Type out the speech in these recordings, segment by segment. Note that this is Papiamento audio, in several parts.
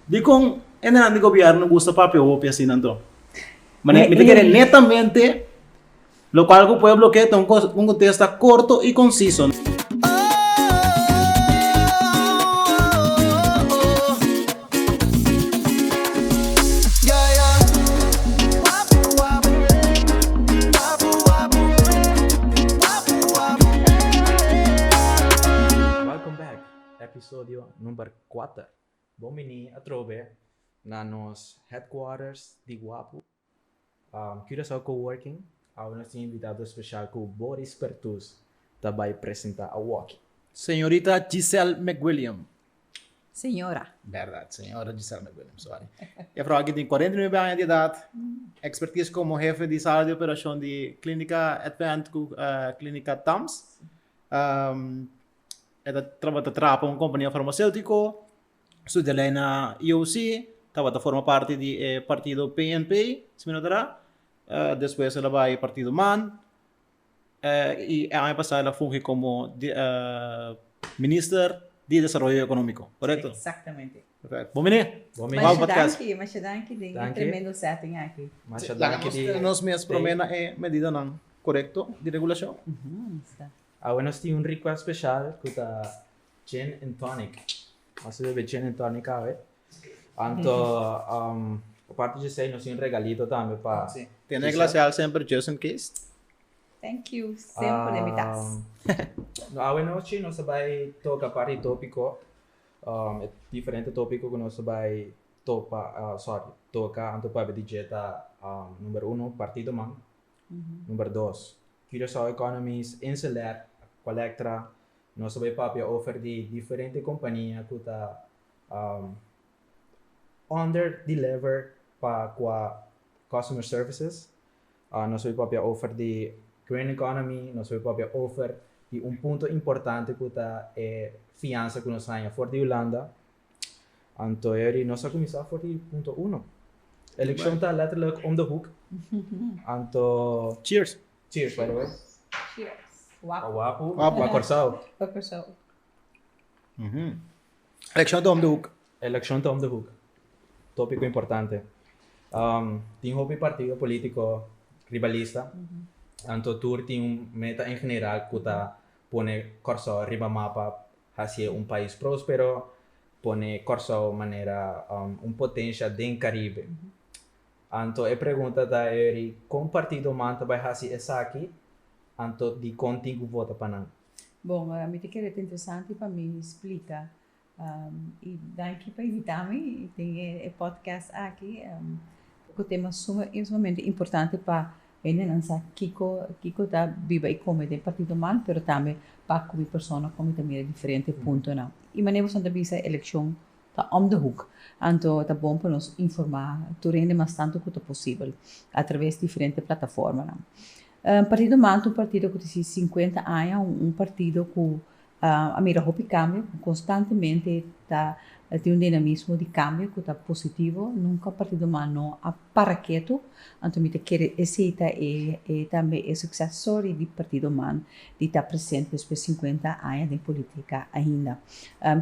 Dikon e nan di gobièrnu gusta papia hopi asina anto? Mane mi ta kere netamente lokual ku pueblo ke ta un un kontesta korto i konsiso. Welcome back, episodio number kuater. Bon bini atrobe na nos headquarters di Guapu, Curaçao Coworking, awe nos tin invitado special cu Boris Pertuz ta bay presenta awaki. Señorita Giselle McWilliam. Señora. Berdad, señora Giselle McWilliam, sorry. E vrouw aki tin cuarenta y nuebe aña di edad, expertise como hefe di sala di operacion di Clinica Advent cu Clinica Tams. E ta tabata traha pa un kompania farmaseutiko, su delei na EOC tabata forma parti di e partido PNP, si mi no ta ra. Despues el a bai partido man i e aña pasá el a fungi komo minister di desaroyo ekonomiko, korekto? Exactamente. Perfecto. Bon biní! Bon biní! Masha danki, masha danki den e tremendo setting aki. Masha danki di. Laga nos mes promé na e medidanan korekto di regulashon. Ujú, esta. Awe nos tin un request special cu ta gin and tonic. Nos a bebe gin and tonic awe. Anto aparte di esey nos tin un regalito tambe pa Giselle. Tin e glaseal semper just in case? Thank you, semper den mi tas. Awe nochi nos a bay toca par di topico, e diferente topico cu nos a bay topa, sorry, toca anto papia di dje ta number uno, partidoman. Number dos, Curaçao Economies, Inselec, Colectra, nos ta bay papia over di diferente compania cu ta under deliver pa cua customer services. Nos ta bay papia over di Green Economy, nos ta bay papia over di un punto importante cu ta e fiansa cu nos haña for di Hulanda Anto eri nos a kuminsá for di punto uno. Elekshon ta letterlijk om de hoek. Anto. Cheers. Cheers by the way. Cheers. Wapu. Wapu. Wapu. Pa Kòrsou. Pa Kòrsou. Elekshon ta om de hoek. Elekshon ta om de hoek. Topiko importante. Tin hopi partido polítiko ribalista. Anto tur tin un meta en general ku ta pone Kòrsou riba mapa. Haci'é un pais próspero, pone Kòrsou manera un potensia den Karibe. Anto e pregunta ta eri kon partidonan ta bai hasi esaki, anto dikon tin ku vota pa nan? Bon, mi ta kere ta interesante pa mi splika. I danki pa invitá mi den e podcast aki, ku tema suma esmamente importante pa hende nan sa kiko kiko ta biba y come den partido man pero tambe pa cu mi persona con mi ta mira diferente puntonan y mane boso ta bisa eleccion ta om the hook anto ta bon pa nos informa tur hende mas tanto cu ta posibel a traves diferente plataformanan partido man ta un partido cu ta hasi cincuenta aña un partido cu A mira hopi kambio ku konstantemente ta tin un dinamismo di kambio ku ta positivo. Nunka Partido Humano no a para ketu, anto mi ta kere esei ta e tambe e sukses story di Partido Humano di ta presente despues sinkuenta aña den politika ainda.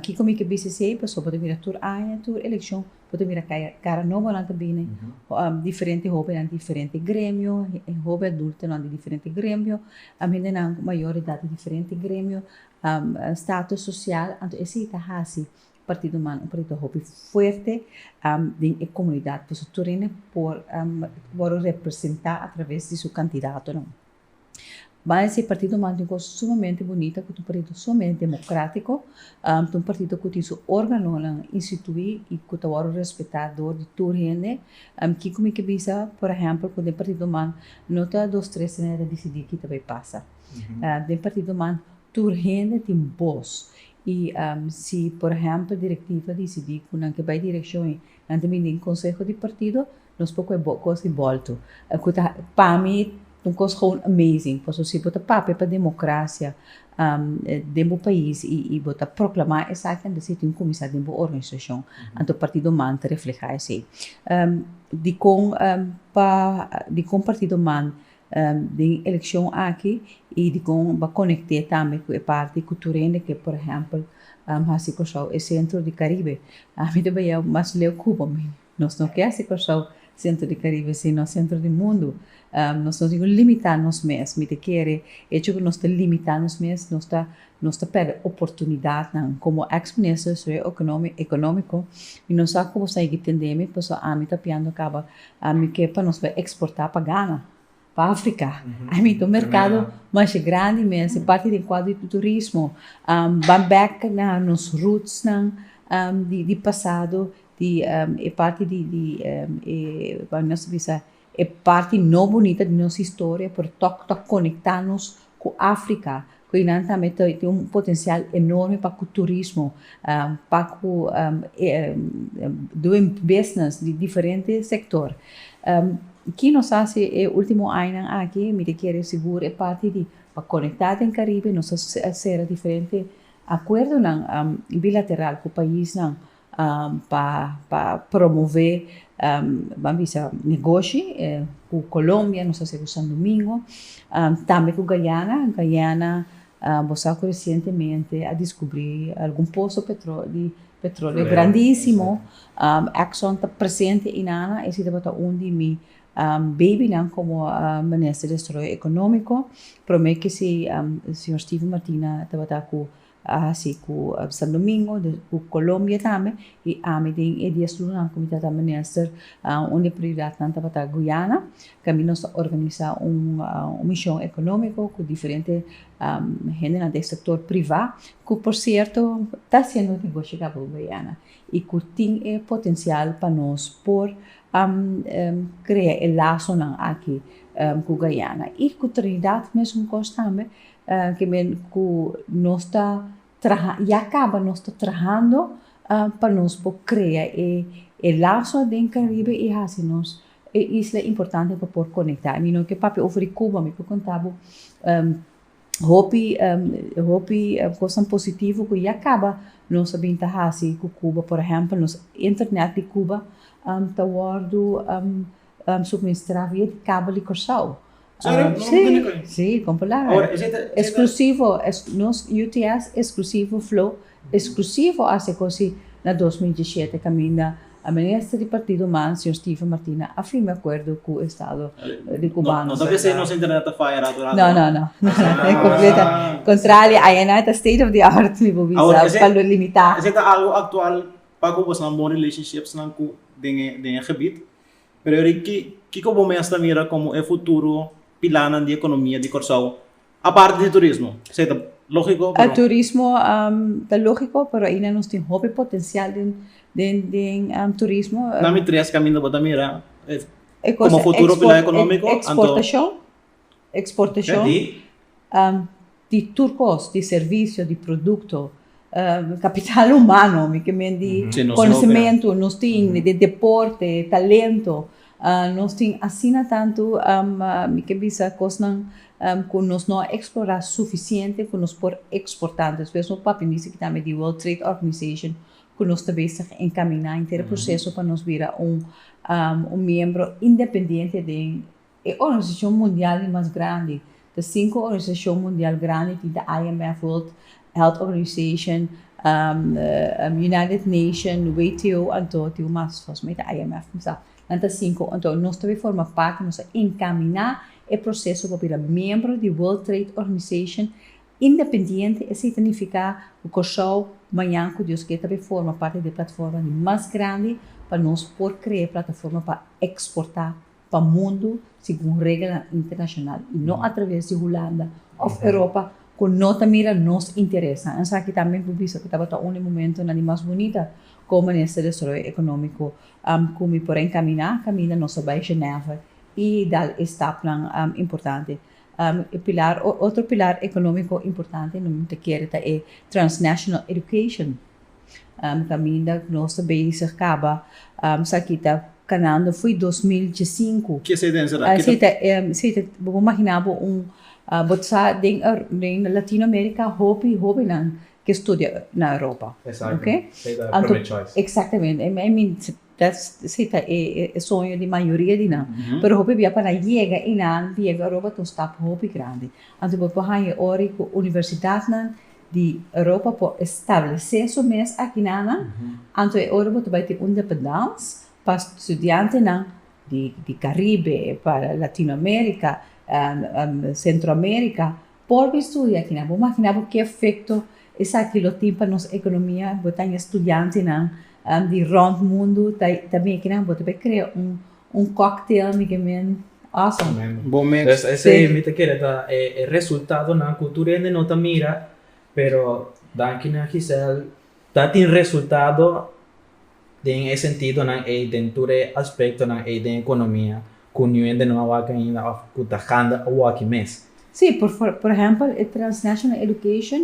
Kiko mi ke bisa esei? Pasobra mi ta mira tur aña, tur elekshon bo ta mira cara nobonan ta bini, diferente hobennan di diferente gremio, hobe adultonan di diferente gremio, hendenan mayor di edad di diferente gremio, status social, anto esey ta hasi Partido Humano un partido hopi fuerte den e comunidad, pasobra tur hende por wòrdu representá atraves di su candidatonan. Baña si partido manda un cosa sumamente bunita cu ta un partido sumamente democratico, ta un partido cu tin su organonan institui y cu ta wordo respeta door di tur hende, kico mi ta bisa por ehempel cu den partidonan no ta dos tres sino nan e ta dicidi kita bay pasa, den partidonan tur hende tin boz y si por ehempel directiva dicidi cu nan ke bay direccion y nan ta bini den conseho di partido Nos por koe bo kos di bolto e ku ta pa mi un kos gewoon amazing paso si bo ta papia pa democracia den bo pais y bo ta proclama esaki anto si tin un comisar den bo organisacion anto partido man ta refleha esey dicon pa dicon partido man den eleccion aki y dicon ba conecte tambe cu e parti cu tur hende ke por ehempel hasi Kòrsou e centro di Caribe ami ta baia mas leu Cuba. Nos no ke hasi Kòrsou sentro di Karibe sino sentro di mundu. Nos no tin ku limitá nos mes. Mi ta kere echo ku nos ta limitá nos mes nos ta nos ta pèrdè oportunidatnan. Komo eks Minister di Desarrollo Ekonómiko Ekonómiko i no sa ku bo stá higi tendémi paso ami ta piando kaba mi ke pa nos bai eksportá pa Gana. pa africa I mean ta un mercado masha grandi mester parti den cuadro di turismo ba back na nos roots nan di pasado di e parti di di e wou nos bisa e parti no bonita di nos historia pero tok ta conecta nos. cu Africa, cu einan tambe ta tin un potencial enorme pa cu turismo, pa cu doing business di diferente sector. Ki nos a haci e ultimo añanan aki? Mi ta kere sigur e parti di pa conecta den Caribe, nos a cera diferente acuerdonan bilateral cu paisnan, pa pa promove ban bisa negoshi ku colombia nos ta hasi ku santo domingo tambe ku guyana, guyana bo sa ku resientemente a diskubri algun poso petroli petroleo grandisimo exxon ta presente inana esi tabata un di mi bebinan komo minister di desarollo economico prome kisi señor steven martina tabata ku A hasi ku San Domingo, ku Colombia tambe y ami den e dies lunanan ku mi ta ta minister un di e prioridadnan tabata Guyana ka mi nos ta organisa un mishon economico ku diferente hendenan den sector priva ku por cierto ta haciendo negoshi acá por Guyana y ku tin e potencial pa nos por crea e lazonan aki ku Guyana y ku Trinidad mesun kos tambe Kimen ku nos ta traha, ya kaba nos ta trahando pa nos por krea e laso aden Karibe i hasi nos e isla importante pa por konektá. Mi no ke papia over di Kuba, mi por konta bo hopi, hopi kosnan positivo ku ya kaba nos a bin ta hasi ku Kuba. Por ehèmpel, nos internet di Kuba ta wòrdu subministrá via di kabel di Kòrsou. Sí, con palabra. Exclusivo, nos UTS exclusivo flow, exclusivo hace cosi na dos mil diecisiete caminda a minister di partido human señor Steven Martina a firme acuerdo cu estado di cubano. No ta kier si nos internet ta faya rato rato. No, no, no. Contrario, ayenai ta state of the art mi por bisa pa lo limita. Ese ta algo actual pa cu boso a bon relationships nan cu den e gebied. Pero Ricky, kiko bo mes ta mira komo e futuro pilánan di ekonomia di Kòrsou, aparte di turismo? Esei ta lógiko, pero. Turismo ta lógiko, pero aínda nos tin hopi potensial den turismo. Na mi tres kaminda bo ta mira komo futuro pilán ekonómiko, anto. Eksportashon. Eksportashon di tur kos, di servisio, di produkto, kapital humano, mi ke men di konosementu nos tin, di deporte, talento, nos tin asina tantu, mi ke bisa kosnan ku nos no a eksplorá sufisiente ku nos por eksportá. Entonces por eso nos papia mester kita me di World Trade Organization ku nos ta bes ta enkaminá henter e proseso pa nos bira un miembro independiente den E organisashon mundial di mas grandi ta sinku organisashon mundial grandi tin ta IMF, World Health Organization, United Nation, WTO anto tin un mas fòs mi ta IMF mi sa nan ta sinku anto nos ta bin forma parti nos a enkaminá e proseso pa bira miembro di World Trade Organization independiente esei ta nifiká ku Kòrsou mañan ku Dios ke ta bin forma parti di e platforma di mas grandi pa nos por krea plataforma pa eksportá pa mundu segun regelnan internashonal i no atraves di Hulanda òf Europa ku no ta mira nos interesnan. Esaki ta mi por bisa ku tabata un di momentunan di mas bunita kon Minister Desarollo Ekonómiko ku mi por a enkaminá kaminda nos ta bai Genève i dal e stapnan importante. E pilar, otro pilar ekonómiko importante, mi ta kere ta e Transnational Education. kaminda ku nos ta bezig kaba sa ki ta kanando foi dos mil diesinku. Ki esei ta enserá? Esei ta esei ta bo por imaginá bo un bo ta sa den den Latino America hopi hobennan ke studia na Europa. Exacto. Esei ta e primer choice. Exactamente. Si ta e soño di mayoria di nan. Pero hopi bia pa nan yega i nan yega Europa ta un stap hopi grandi. Anto bo por haña e ora ku universidatnan di Europa por establesé su mes aki na nan, anto e ora bo ta bai tin un dependans pa studiantenan di Karibe, pa Latinoamérika, Sentroamérika. Por bo studia aki nan, bo makina bo ke efekto esaki lo tin pa nos ekonomia, bo ta haya studiantenan di rònt mundu, ta bin aki nan bo ta por krea un kòktel mi ke men awesome. Tremendo. Bo mes. Entonces esei mi ta kere ta e resultadonan ku tur hende no ta mira, pero danki na Gisèle ta tin resultado den e sentidonan ei, den tur e aspektonan ei den ekonomia, Cu new hende no a wak ainda of cu ta gande a waki mes. Sí, por por ehempel e Transnational Education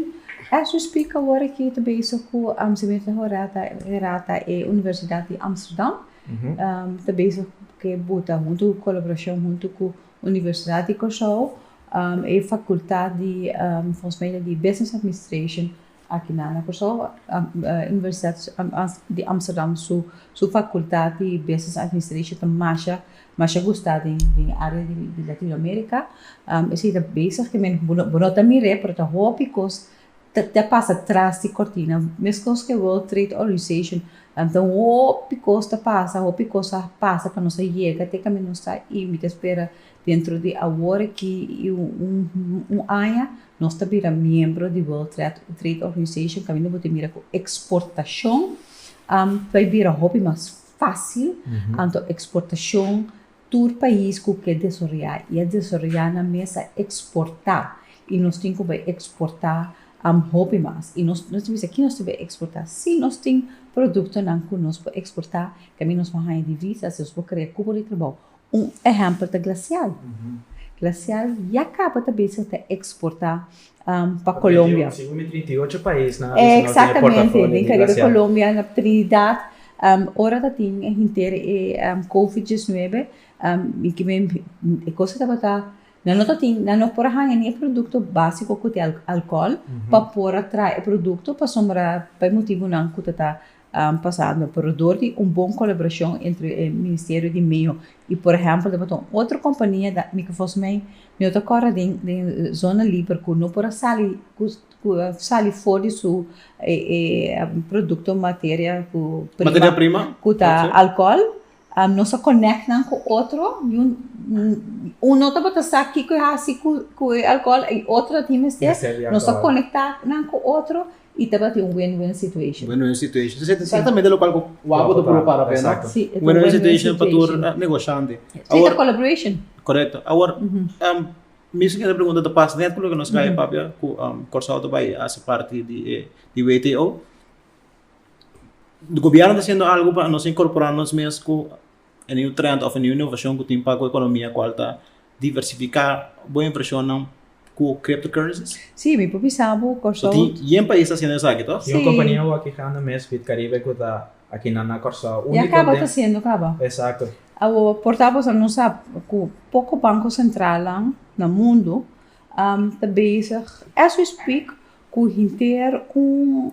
as we speak awor ki ta bezig cu Amziwin Rehorata Herata e Universidad di Amsterdam ta bezig cu buta hunto colaboracion hunto cu Universidad di Curaçao e facultad di volgens mij ta di Business Administration Aki na na Kòrsou Universiteit di Amsterdam su fakultat di Business Administration ta masha masha gusta den área di Latino Amerika. Esei ta bezig ke men bo no ta mir'é pero ta hopi kos ta pasa tras di kòrtina. Meskos ke World Trade Organization ta un hopi kos ta pasa, hopi kos a pasa pa nos a yega te kende nos ta i mi ta spera Dentro di awor aki i un aña nos ta bira miembro di World Trade Organization kaminda bo ta mira ku eksportashon ta a bira hopi mas fásil anto eksportashon tur pais ku ke desaroyá i a desaroyá nan mes a eksportá i nos tin ku bai eksportá hopi mas i nos ta bisa ki nos tin bai eksportá si nos tin produktonan ku nos por eksportá tambe nos por haña divisas nos por krea kupo di trabou Un ehèmpel ta glasial. Glasial ya kaba ta bezig ta eksportá pa Kolombia. Segun mi trinta i ocho pais nan a bisa nan no tin e portafolio di glasial. Eksaktamente. Den Karibe Kolombia, na Trinidad, ora ta tin e henter e covid diesnuebe, mi ke men e kos ta tabata nan no ta tin, nan no por a haña ni e produkto básiko ku tin alkòl pa por a traha e produkto pasobra pa e motibunan ku ta ta pasando pero dor di un bon colaboracion entre e Ministerio di Meo y por ehempel ta bota un otro compania da mi fos mei no ta cora den zona liber cu no por a sali cu sali for di su producto materia cu prima cu ta alcohol Nos a connect nan cu otro y uno tabata sa kico e haci cu e alcohol y otro a tin mester, nos a conecta nan cu otro y tabatin un win-win situation. Win-win situation. Entonces e ta exactamente locual cu Wapo ta proba para haber, no? Si, e ta un win-win situation. Win-win situation pa tur negociante. Si, e ta collaboration. Correcto. Awor, mismo kende pregunta ta pas net cu loke nos scaya papia cu Curaçao ta bay haci parti di WTO. Gobierno ta hasiendo algu pa nos incorpora nos mes cu e new trend of e new innovacion cu tin paca economia cual ta diversifica bo inversionnan cu crypto currencies? Sí, mi papia sa bo Curaçao. So tin yen pais ta hasiendo esaki toh? Tin un compania awor grandi mes Bitcaribe cu ta aki na na Curaçao. Unico den. Ya caba ta hasiendo caba. Exacto. Awor por ta boso nos sa cu poco banco centralnan na mundo ta bezig as we speak Cu hinteer un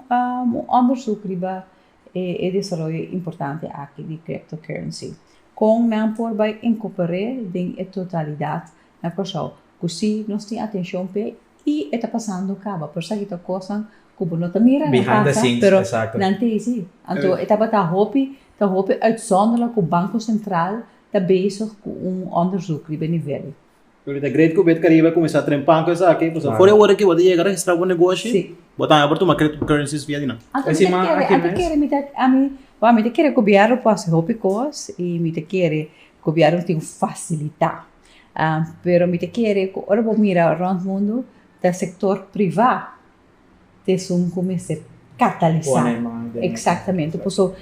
onderzoek riba e desaroyo importante aki di cryptocurrency. Con nan por bay encoper'é den e totalidad na Curaçao cu si nos tin atencion p'e y e ta pasando caba. Por esaki ta cosnan cu bo no ta mira na pasa pero nan ta hezi. Anto e tabata hopi ta hopi uitzonderlijk cu Banco Centraal ta bezig cu un onderzoek riba e nivel. Lo di ta great cu Betcaribe a cuminsa train panca esaki, pues afora e ora cu bo ta yega registra bo negoshi, Sí. bo ta haya por tuma cryptocurrencies via di nan. Anto mi Encima, ta kere, aki anto mes. kere mi ta, a mi, wa mi ta kere gobièrnu por hasi hopi kos i mi ta kere gobièrnu tin fasilitá. Ah, pero mi ta kere ku ora bo mira rònt mundu ta sektor privá. tesun ku mester katalisá. Pone man den. Eksaktamente. Paso,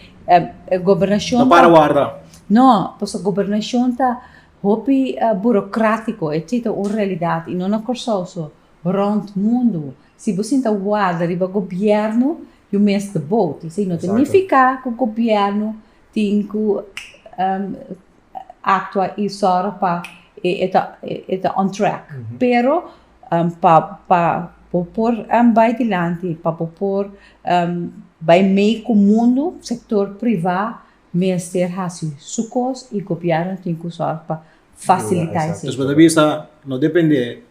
gobernashon ta. No para warda. No, paso gobernashon ta hopi burokratico. E chita un realidad, i no na Kòrsou so, rònt mundu. Si bo sinta warda riba gobièrnu, yu mes ta bouti. Esei no ta nifiká ku gobièrnu tin ku aktua i sòru pa e ta on track. Pero pa pa bo por bai dilanti pa bo por bai mee ku mundu sektor privá mester hasi su kos i gobièrnu tin ku sòru pa fasilitá esei. Bo ta bisa no dependé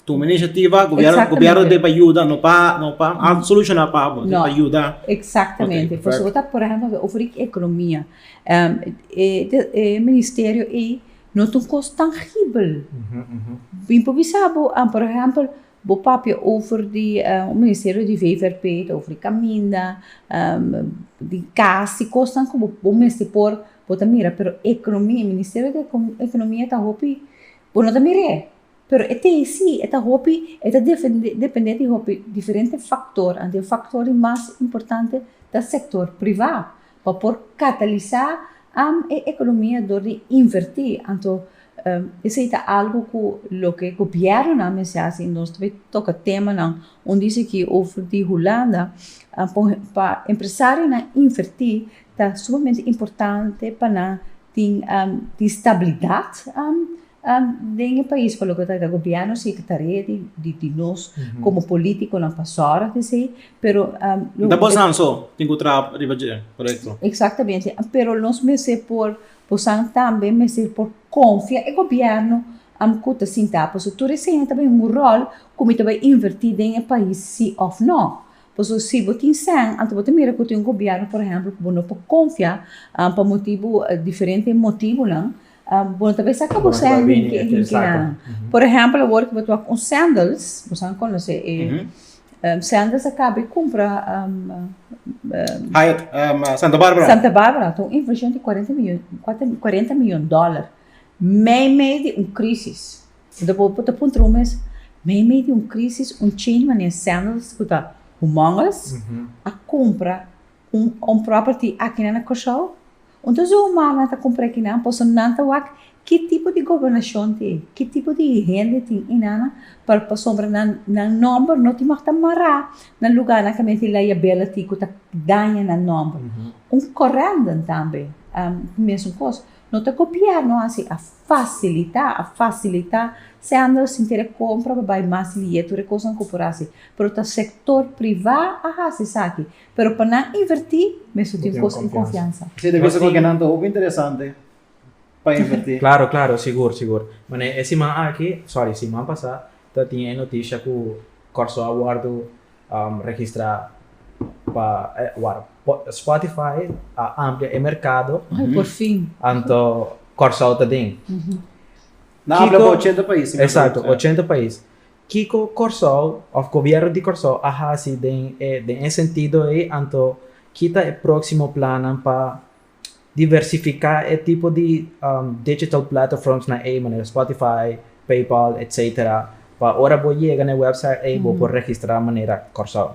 tuma inishativa gobièrnu debe pa yuda no pa no pa solushona pa abo no pa yuda. Eksaktamente pasobra bo ta por ehèmpel oferí ekonomia e ministerio ei No ta un kos tangibel. Bo improvisá bo, por ehèmpel, bo papia over di un ministerio di VVRP, ta over di kaminda, di kas, di kosnan ku bo mester por, bo ta mira pero ekonomia, ministerio di ekonomia ta hopi, bo no ta mir'é. Pero e tei si, e ta hopi, e ta dependé di hopi diferente faktor, anto e faktor di mas importante ta sektor privá, pa por katalisá am e ekonomia dor di invertí, anto esei ta algu ku loke gobièrnunan mester hasi i nos ta bin toka temanan un di esaki over di Hulanda, pa empresarionan invertí ta sumamente importante pa nan tin stabilidat. Den e pais pa loke ta keda gobierno si ta tarea di nos como politiconan pa zorg di esey pero. Nta bo san so tin cu traha riba dje proyecto. Exactamente pero nos mester por bosan tambe mester por confia e gobierno cu ta sinta pasobra tur esey ta bay un rol cu mi ta bay inverti den e pais si of no pasobra si bo tin sen anto bo ta mira cu tin un gobierno por ejemplo cu bo no por confia pa motibo diferente motibonan. Bo ta bisa ku bo sen hinki e hinki nan. Por ehèmpel awor ku bo ta wak un sèndels, boso a konosé e sèndels a kaba e kumpra Hyatt Santa Barbara. Santa Barbara ta un invershon di kuarenta mion kuarenta mion dòlar mei mei di un krisis. Enton bo ta puntra bo mes, mei mei di un krisis un chain manera sèndels ku ta humongous a kumpra un property akina na Kòrsou? Un tur zoomar nan ta cumpra ki nan por so nan ta wak ki tipo di gobernacion tin, ki tipo di hende tin inana par pasobra nan nan nomber no tin mag ta mara na lugarnan ca men tin la yabela tin cu ta daña nan nomber. Un correndum tambe mesun cos, no ta copiar no haci a facilita, a facilita sendo sin quiere compra pa bay mas lieto de cosnan cu por haci pero ta sector priva a haci esaki Pero pa nan invertí mesun tin kos en konfiansa. Sí, ta bisa ku kinan ta hopi interesante pa invertí. Klaro, klaro, sigur, sigur. Manera e siman aki, sòri, siman pasá ta tin e notisha ku Kòrsou a wòrdu registrá pa, wak, Spotify a amplia e merkado. Ay, por fin. Anto Kòrsou ta den. Nan habla pa ochenta pais. Exacto, ochenta pais. Kiko Kòrsou òf Gobièrnu di Kòrsou a hasi den e den e sentido ei anto ki ta e próksimo plannan pa diversifiká e tipo di digital platterforms na ei manera Spotify, PayPal etc. Pa ora bo yega na e wèpsait ei bo por registrá manera Kòrsou.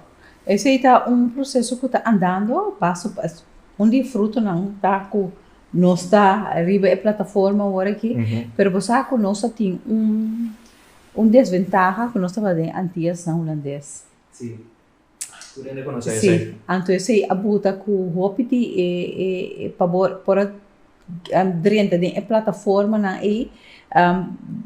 Esei ta un proseso ku ta andando paso paso. Un di e frutonan ta ku nos ta riba e plataforma ora aki pero bo sa ku nos a tin un Un desventaha cu nos ta hala den Antiasnan Hulandes. Sí. Cu tin reconoce esey. Sí. Anto esey a buta cu hopi di e pa bo por a drenta den e plataformanan ey.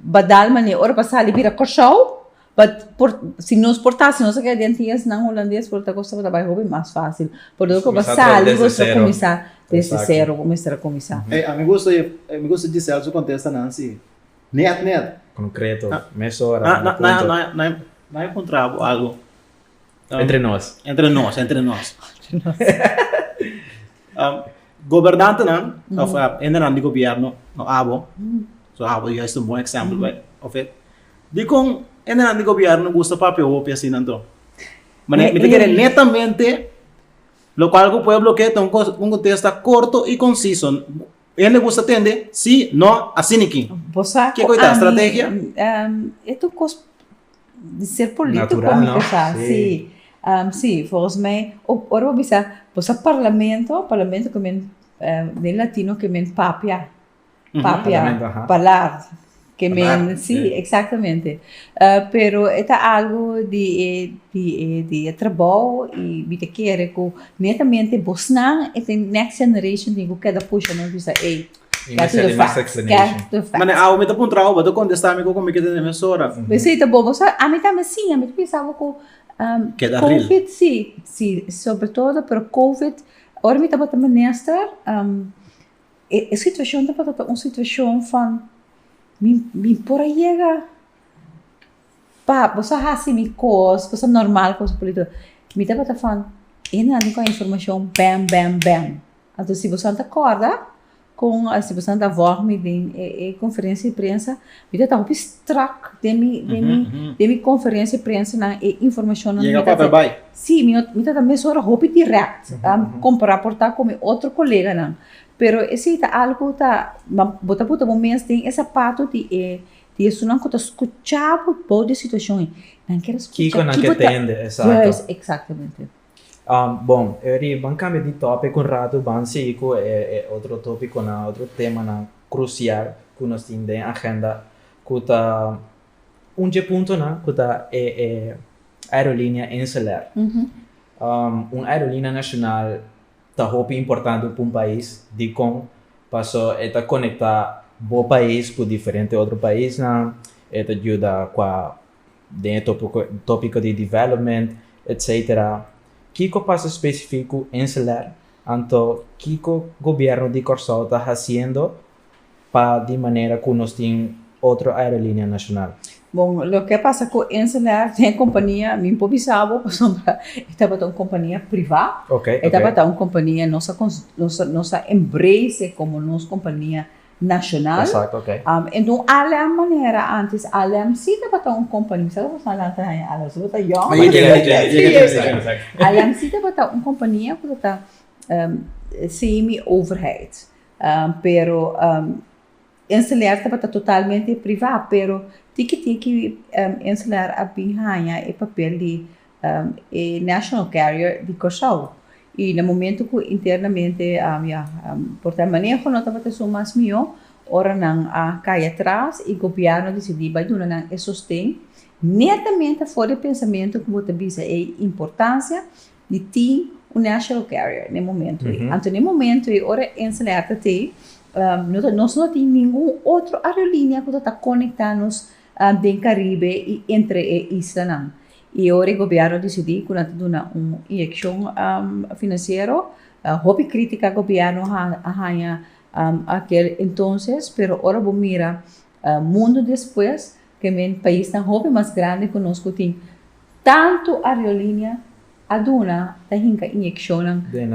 Badal mane ora pa sali bira Corsou, but por si nos por ta si nos a keda den Antiasnan Hulandes por ta cosa tabata hopi mas facil. Por lo cu bo a sali bo ta cuminsa desde cero bo mester a cuminsa. Ey, a mi gusta mi gusta Giselle su contesta nan si. Net, net. Concreto, mesora, na punto. Na, na, na, na encontra bo algo. Um, entre nos. Entre nos, entre nos. um, gobernante nan, mm. of uh, ende nan di gobierno, no abo. Mm. So abo is juist un bon exempel, mm. of it. Di con ende nan di gobierno gusta papia hopi así nan to. Maar nee, nee, nee. netamente, lo cual el pueblo que un contexto corto y conciso. Hende gusta tende si, no, asi ni kin. Bo sa Ke ku koita ami, strategia? em, e tu kos di ser polítiko Natural, mi no? ta sa, Sí. si. Em, si, volgens mij, o- ora bo bisa, bo sa parlamento, parlamento ke men, em, den latino ke men papia, papia, Parlamento, aha. palar. Ke men, sí, exactamente. Pero e ta algu di e, di e, di e trabou i mi ta kere ku netamente bosnan e tin next generation tin ku keda pusha nos bisa, ey, get to the facts, get to the facts. Mane, awe mi ta puntra bo, bo ta kontestá mi ku kon mi keda den mesora. Sí, ta bon, bo sa, ami tambe sí, ami ta pensa bo ku, Covid, sí, sí, sobre todo, pero Covid, ora mi tabata minister, e situacion tabata ta un situacion fan mi mi por a yega pa ɓos a haci mi cos, ɓos a normal cos mi pudi tok, mi tabata fan e nan tin cu a informacion bem bem bem, anto si boso a ta corda con a si boso a ta vòrmi den e e conferencia di prensa Mi ta ta hopi strak den mi den mi den mi konferensia e prensanan e informashonnan mi ta ta si mi no mi ta ta mesora hopi dirèkt kompará por ta ku mi otro koleganan pero esei ta algu ku ta bo ta puta bo mes den e sapatu di e di esunnan ku ta skuchá bo bou di e situashon nan kera skucha kiko nan ke tende esatamente. Bon, e di ban cambia di topico un rato, ban sigui cu e otro topiconan, otro temanan crucial cu nos tin den agenda, cu ta un dje puntonan cu ta e aerolinea Insulair. Un aerolinea nacional ta hopi importante pa un pais, dicon? Paso e ta conecta bo pais cu diferente otro paisnan, e ta yuda cua den e tópiko di development, etc. Kiko pasa spesifik ku Inselair, anto kiko Gobièrnu di Kòrsou ta hasiendo pa di manera ku nos tin otro aerolinea nashonal? Bon, loke pasa ku Inselair den e kompania, mi por bisa bo pasobra e tabata un kompania privá, e tabata un kompania nos a nos a embrace komo nos kompania. nacional. Enton Alem manera antes Alem si tabata un compania, sa lo cu asina lanta haña Alem? Su lo ta yong? Alem si tabata un compania cu lo ta semi overheid pero Enseleer tabata totalmente priva pero tin ki tin ki Enseleer a bin haña e papel di e national carrier di Kòrsou i na momentu ku internamente ya por ta maneho no tabata esun mas mihó ora nan a kai atras i gobièrnu disidí bai duna nan e sosten netamente afó di e pensamentu ku bo ta bisa ei importansia di tin un national carrier na e momentu ei anto na e momentu ei ora e enseñar ta t'ei nos no tin ningun otro aerolinia ku ta ta konektá nos den Caribe y entre e islanan. Y ora e gobierno dicidi cu nan ta duna un inyeccion financiero, hopi critica gobierno a haña aquel entonces, pero ora bo mira mundo despues, ta men paisnan hopi mas grandi cu nos cu tin tanto areolinea a duna, ta hinca inyeccionnan den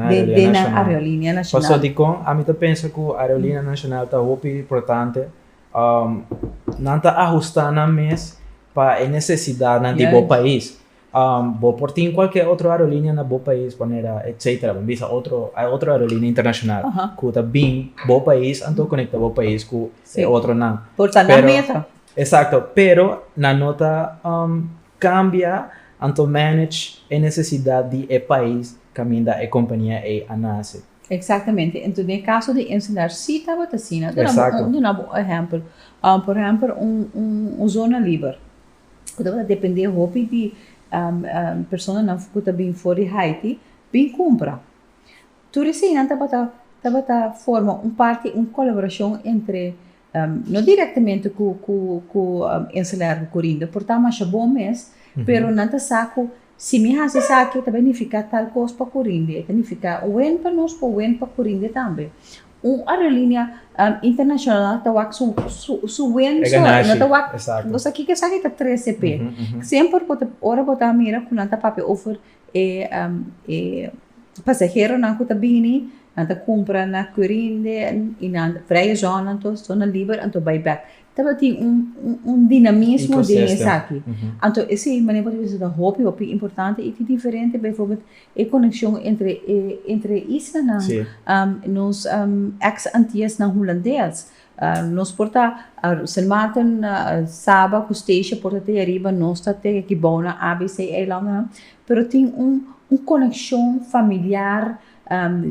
nan areolinea nacional. Pasobra dicon? Ami ta pensa cu areolinea nacional ta hopi importante Nan ta ahustá nan mes pa e nesesidatnan di bo pais. Bo por tin kualke otro aerolinia na bo pais, Panera, etsetera, bo bisa otro, ai otro aerolinia internashonal ku ta bin bo pais anto konektá bo pais ku e otronan. Por ta nan mesa. Eksakto, pero nan no ta kambia anto manage e nesesidat di e pais kaminda e kompania ei a nase. Exactamente. Entos den e caso di ensenar si tabata asina. Exacto. Duna bo un ehempel. Por ehempel un zona liber cu tabata depende hopi di personanan cu ta bini for di Haiti bin cumpra. Tur eseinan tabata forma un parti, un colaboracion entre no directamente cu cu ensalada cu corinda por ta masha bon mes, pero nan ta sa cu si mi haci esaki ta bay nifica tal cos pa corinda, e ta nifica wen pa nos pero wen pa corinda tambe. Un aerolinea internacional ta wak su su wen so, e no ta wak, bo sa kico esaki ta trece p'e. Semper bo ta, ora bo ta mira cu nan ta papia over E pasaheronan ku ta bini nan ta kumpra na Quirinde i na Vrije Zon anto zona liber anto bai bèk tabatin un dinamismo den esaki anto e sin manera por di bisa ta hopi hopi importante i ta diferente beiforbèl e konekshon entre isla nan nos eks antiasnan hulandes Nos por ta Sint Maarten Saba cu Statia por ta te ariba nos ta te Kibou na ABC eilandennan pero tin un un coneccion familiar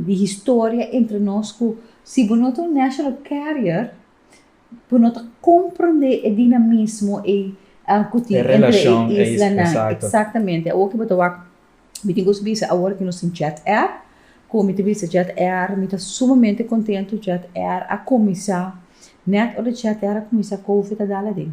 di historia entre nos cu si bo no ta un national carrier bo no ta comprende e dinamismo ei cu tin entre e islanan exactamente awor cu bo ta wak Mi tin gusto bisa awor cu nos tin Jet Air. Cu mi ta bisa Jet Air mi ta sumamente contento. Jet Air a cuminsa, net ora Jet Air a cuminsa Covid a dal aden.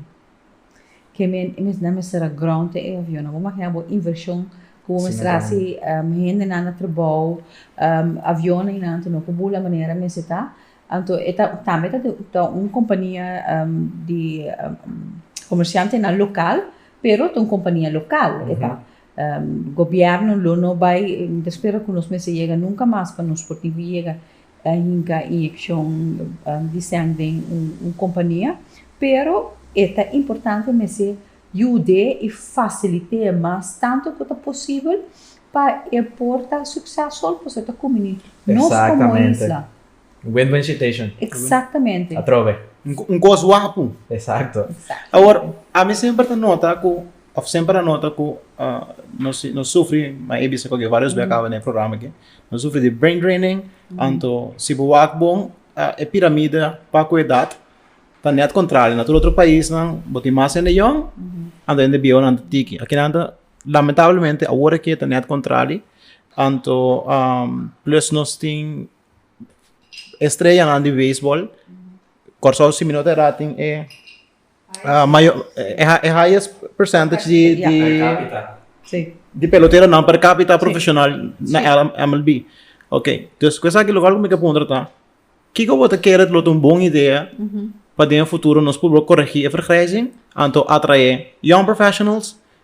Ke men e mes nan mester a ground e avionnan. Bo maya bo inversion cu bo mester a haci, hendenan na trabao, avionnan y anto no cu bula manera mester ta. Anto e ta, tambe ta un compania di comerciantenan local pero ta un compania local e ta. Gobierno lo no bai ta spera cu nos mester yega nunca mas pa nos por tin yega a hinca inyeccion di seng den un compania, pero e ta importante mester yud'e y facilite'e mas tanto cu ta posibel pa e por ta succesful pasobra ta cuminti nos como isla. Un win-win situation. Exactamente. Atrobe. Un cos wapu. Exacto. Awor, ami semper ta nota cu, of semper a nota cu nos sufri, m'a bisa cu varios bey a caba den e programa aki, nos sufri di brain draining, anto si bo wak bon e piramida pa cu edad ta net contrario. Na tur otro paisnan bo tin mas hende yòn, anto hende biehunan ta tiki. Aki nan ta, lamentablemente, awor aki ta net contrari, anto plus nos tin. estreanan di beisbol, Kòrsou si mi no ta erá tin e mayo e highest percentage di di Per capita. di peloteronan per capita profeshonal na MLB. Oke, dus ku esaki lo kual ku mi ta puntra ta, kiko bo ta kere lo ta un bon idea pa den e futuro nos puru a koregí e vergrijzing anto atraé yong professionals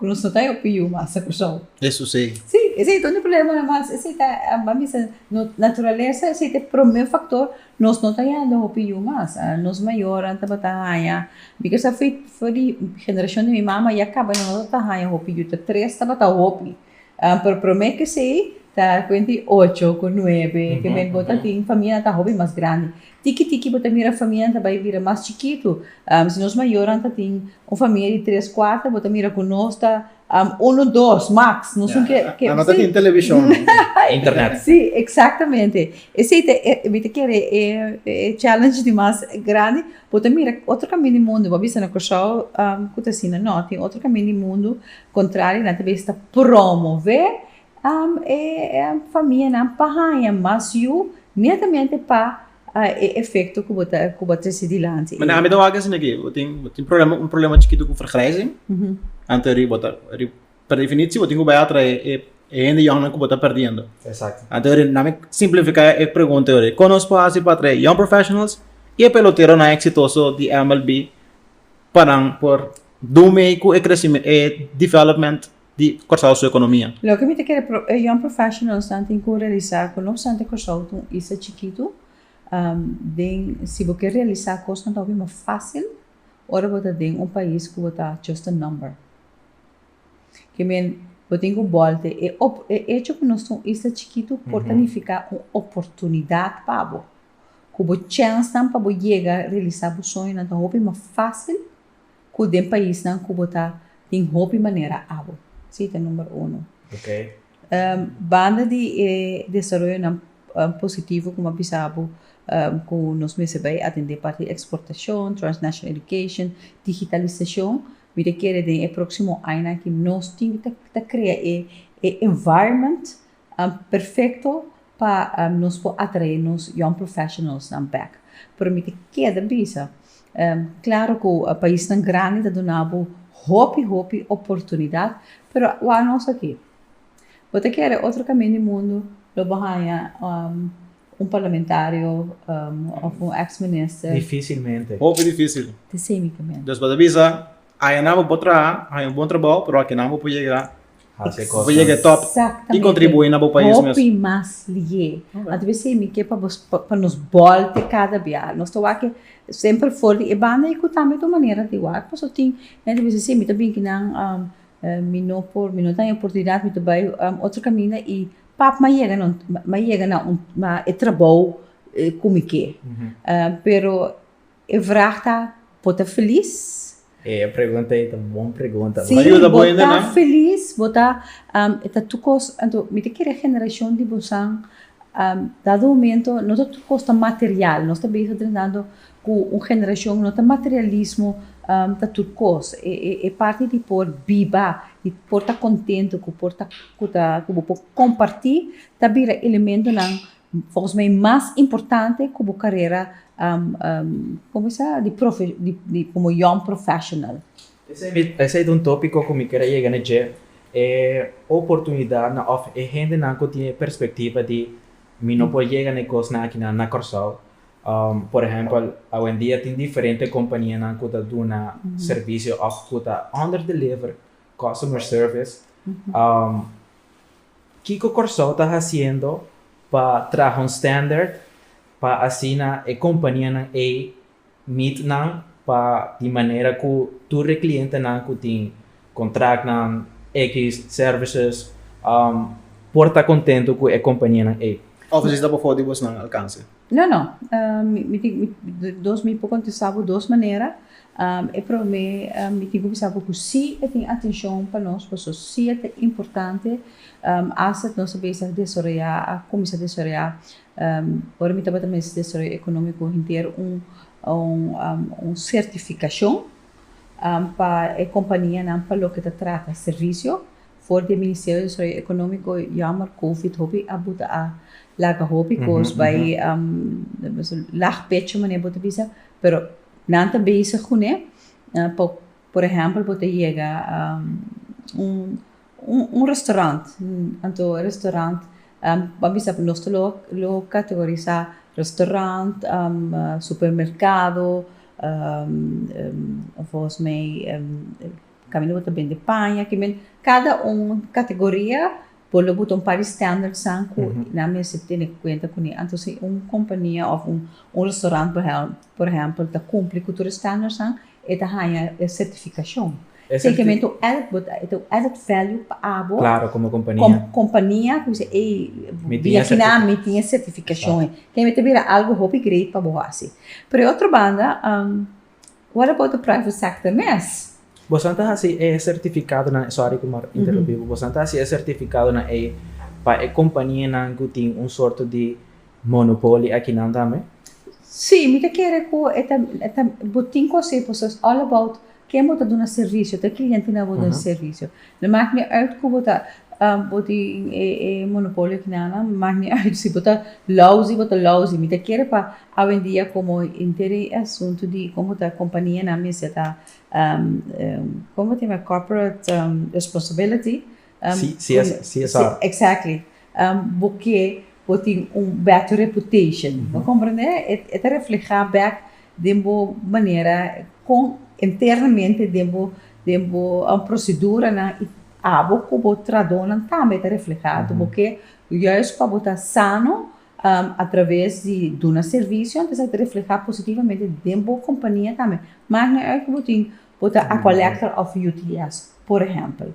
Ku nos no ta e opi yu masa Kursou. Esu sei. Sí, esei ta un di problema nan mas. Esei ta, bo a bisa, no, naturalesa esei ta e promé faktor, nos no ta yanda hopi yu mas. Nos mayornan tabata haña, mi kasa for di generashon di mi mama ya kaba, nan no tabata haña hopi yu, ta tres tabata hopi. Pero prome kesey ta kuent di ocho ku nuebe ke men bo ta tin famianan ta hopi mas grandi tiki tiki bo ta mira famianan ta bai bira mas chikitu si nos mayornan ta tin un famia di tres kuarta bo ta mira ku nos ta unu dos maks nos un ke ke no ta tin televishon internet si eksaktamente esei ta e mi ta kere e e challenge di mas grandi bo ta mira otro kaminda di mundu bo a bisa na Kòrsou ku ta asina nò tin otro kaminda di mundu Contrario, nan ta bay esta promove e famianan pa haña mas yu netamente pa e efecto cu bo ta cu bo traci dilanti. Mane ami ta wak asina que bo tin bo tin problema un problema chikito cu vergrijzing anto eri bo ta eri per definitie bo tin cu bay atrae e e hende yònnan cu bo ta perdiendo anto eri nan mi simplifica e pregunta yo riba con nos por haci pa atrae young professionals y e peloteronan exitoso di MLB pa nan por dun mei ku e development di Kòrsou su ekonomia. Loke mi ta kere e young professionalsnan tin ku realisá ku no obstante Kòrsou ta un isla chikitu den si bo ke realisá kosnan ta hopi mas fásil ora bo ta den un pais ku bo ta just a number. Ke men bo tin ku bòlte e echo ku nos ta un isla chikitu por ta nifiká un oportunidat pa bo. ku bo chènsnan pa bo yega realisá bo soñonan ta hopi mas fásil ku den paisnan ku bo ta tin hopi manera abo. Si i ta numero uno. Banda di e desaroyonan positivo ku mi a bisa bo ku nos mester bai atendé parti di eksportashon, transnational education, digitalisashon, mi ta kere den e próksimo añanan aki nos tin ta krea e environment Perfecto pa nos por atrae nos young professionalsnan bek. Pero mi ta keda bisa, claro cu paisnan grandi ta duna bo hopi hopi oportunidad, pero wak nos aki. Bo ta kere otro camin di mundo lo bo haya un parlamentario of un ex minister. Dificilmente. Hopi dificil. Di sey mi ta mira. Despues a bisa, ayanan bo por traha, haya un bon trabao, pero akinan bo por yega. hasi cosnan. Bo yega e top y contribui na bo pais mes. Hopi mas liye. Anto bo esey mi ke pa bo pa nos bolte cada bia. Nos ta wak semper for di e banda y cu tambe otro manera di wak paso tin nan ta bisa esey mi ta bin ki nan mi no por mi no ta hen oportunidad mi ta bay otro caminda y pap ma yega nan ma yega na e trabou cu mi ke pero. E vraag ta, Bo ta felis? E pregunta ei ta bon pregunta. Sí, bo ta felis? Bo ta, e ta tur cos, anto mi ta kere generacion di bosan, dado un momento no ta tur cos ta material, nos ta bezig drentando cu un generacion no ta materialismo ta tur cos, e parti di por biba, di por ta contento, cu bo por comparti ta bira elementonan Focus mi mas importante cu bo carera di como young professional. Esey ta un topico cu mi ker a yega na dje, e oportunidadnan of e hendenan cu tin e perspectiva di mi no por yega na e cosnan akinan na Corsou. Por ehempel, awendia tin diferente companianan cu ta duna servicio of cu ta under deliver customer service. Kiko Kòrsou ta hasiendo pa traha un standard pa asina e kompanianan ei meet nan pa di manera ku tur e klientenan ku tin kontraktnan, ekis services, por ta kontentu ku e kompanianan ei? Offices ta bofo di bosnan alkanse. No no mi tin mi dos mi por contesta bo dos manera e prome mi tin cu bisa bo cu si e tin atencion pa nos pasobra si e ta importante hasta nos a bisa desaroya a cuminsa desaroya ora mi tabata mester desaroyo economico henter un certificacion pa e companianan pa loke ta trata servicio For di e Ministerio di Desarrollo Economico, jammer covid hopi a bo ta a laga hopi cos bay lag pecho manera bo ta bisa, pero nan ta bezig cu ne pa por ehempel bo ta yega un restaurant anto e restaurant bo a bisa nos ta lo categorisa restaurant, supermercado, volgens mij. Camino bo ta bende paña ki men cada un categoria bo lo buta un par di standards san cu nan mester tene cuenta cu ne anto si un compania of un restaurant por ehempel ta cumpli cu tur e standards san e ta haña e certificacion si kier mento added bo ta un added value pa abo como compania cu bisa ey bini aki nan mi tin e certificacion e kier mento bira algo hopi great pa bo haci pero otro banda. What about the private sector mes? Boso ta hasi e sertifikadonan, sorry ku por interrumpí bo, boso ta hasi e sertifikadonan ei pa e kompanianan ku tin un sorto di monopoli akinan tambe? Sí, mi ta kere ku e ta, ta, bo tin ku hasi, boso es all about ken bo ta duna servisio, ta e klientenan bo ta duna servisio. No mak ni uit ku bo ta, bo tin e, e monopolio akinanan, mak ni uit si bo ta lousy, bo ta lousy, mi ta kere pa Awendia komo interi e asuntu di komo ta kompanianan mester ta komo ta yama corporate responsibility, CSR, exactly, bo ke bo tin un better reputation, bo komprende? E ta refleha bek den bo manera kon internamente den bo den bo proceduranan i abo ku bo tradonan tambe ta refleha tu bo ke juis pa bo ta sano a traves di duna servisio anto esaki ta refleha positivamente den bo kompania tambe, mak no uit ku bo tin bo ta a kolektor òf UTS por ehèmpel.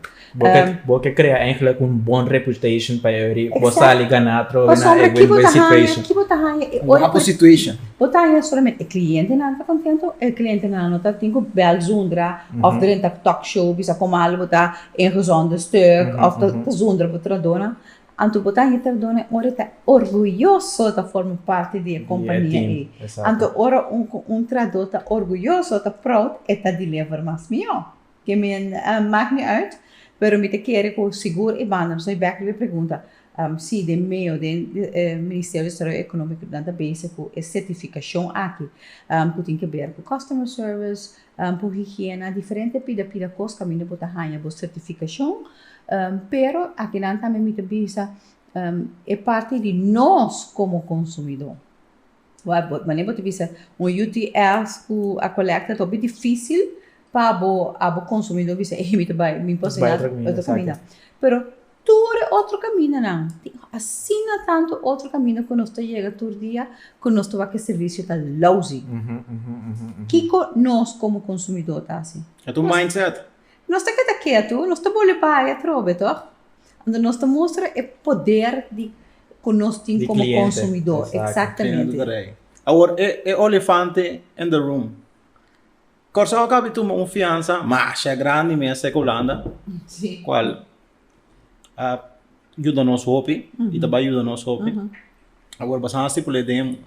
Bo ke krea eigenlik un bon reputation pa e ori bo sali ganá atrobe na e win-win situation. Ki bo ta haña e ora ku bo ta haña solamente e klientenan ta kontentu, e klientenan no ta tin ku bèl zundra òf dren ta tòk show bisa kon malo bo ta ingezonde stuk òf ta zundra bo tratadónan. Anto bo ta hita perdona e ora e ta orguyoso ta forma parti di e kompania ei. Anto ora un tradó ta orguyoso o ta proud e ta deliver mas mihó. Ke mi mak mi uit, pero mi ta kere ku sigur e banda pasobra e bèk riba e pregunta si den meo den Ministerio di Desarrollo Económico nan ta bezig ku e sertifikashon aki ku tin ke ber ku customer service, Por higiena diferente pida pida cos caminda bo ta haya bo certificacion, pero aki nan tambe mi ta bisa e parti di nos como consumidor, mane bo ta bisa un UTLs cu a colecta ta hopi dificil pa bo a bo consumidor bisa ey mi ta bay mi por asina otro caminda pero tur e otro caminonan, tin asina tantu otro camino cu nos ta yega tur dia cu nos ta wak e servicio ta lousy. Kico nos como consumidor ta haci? Esta un mindset. Nos ta keda ketu, nos ta bolbe bai atrobe, toch? Anto nos ta mustra e poder di cu nos tin como consumidor. Exactamente. Awor e olifante in the room. Kòrsou a kabe tuma un fiansa masha grandi mester ku Hulanda, kual a yuda nos hopi i ta bai yuda nos hopi. Awor basado na stipul'é den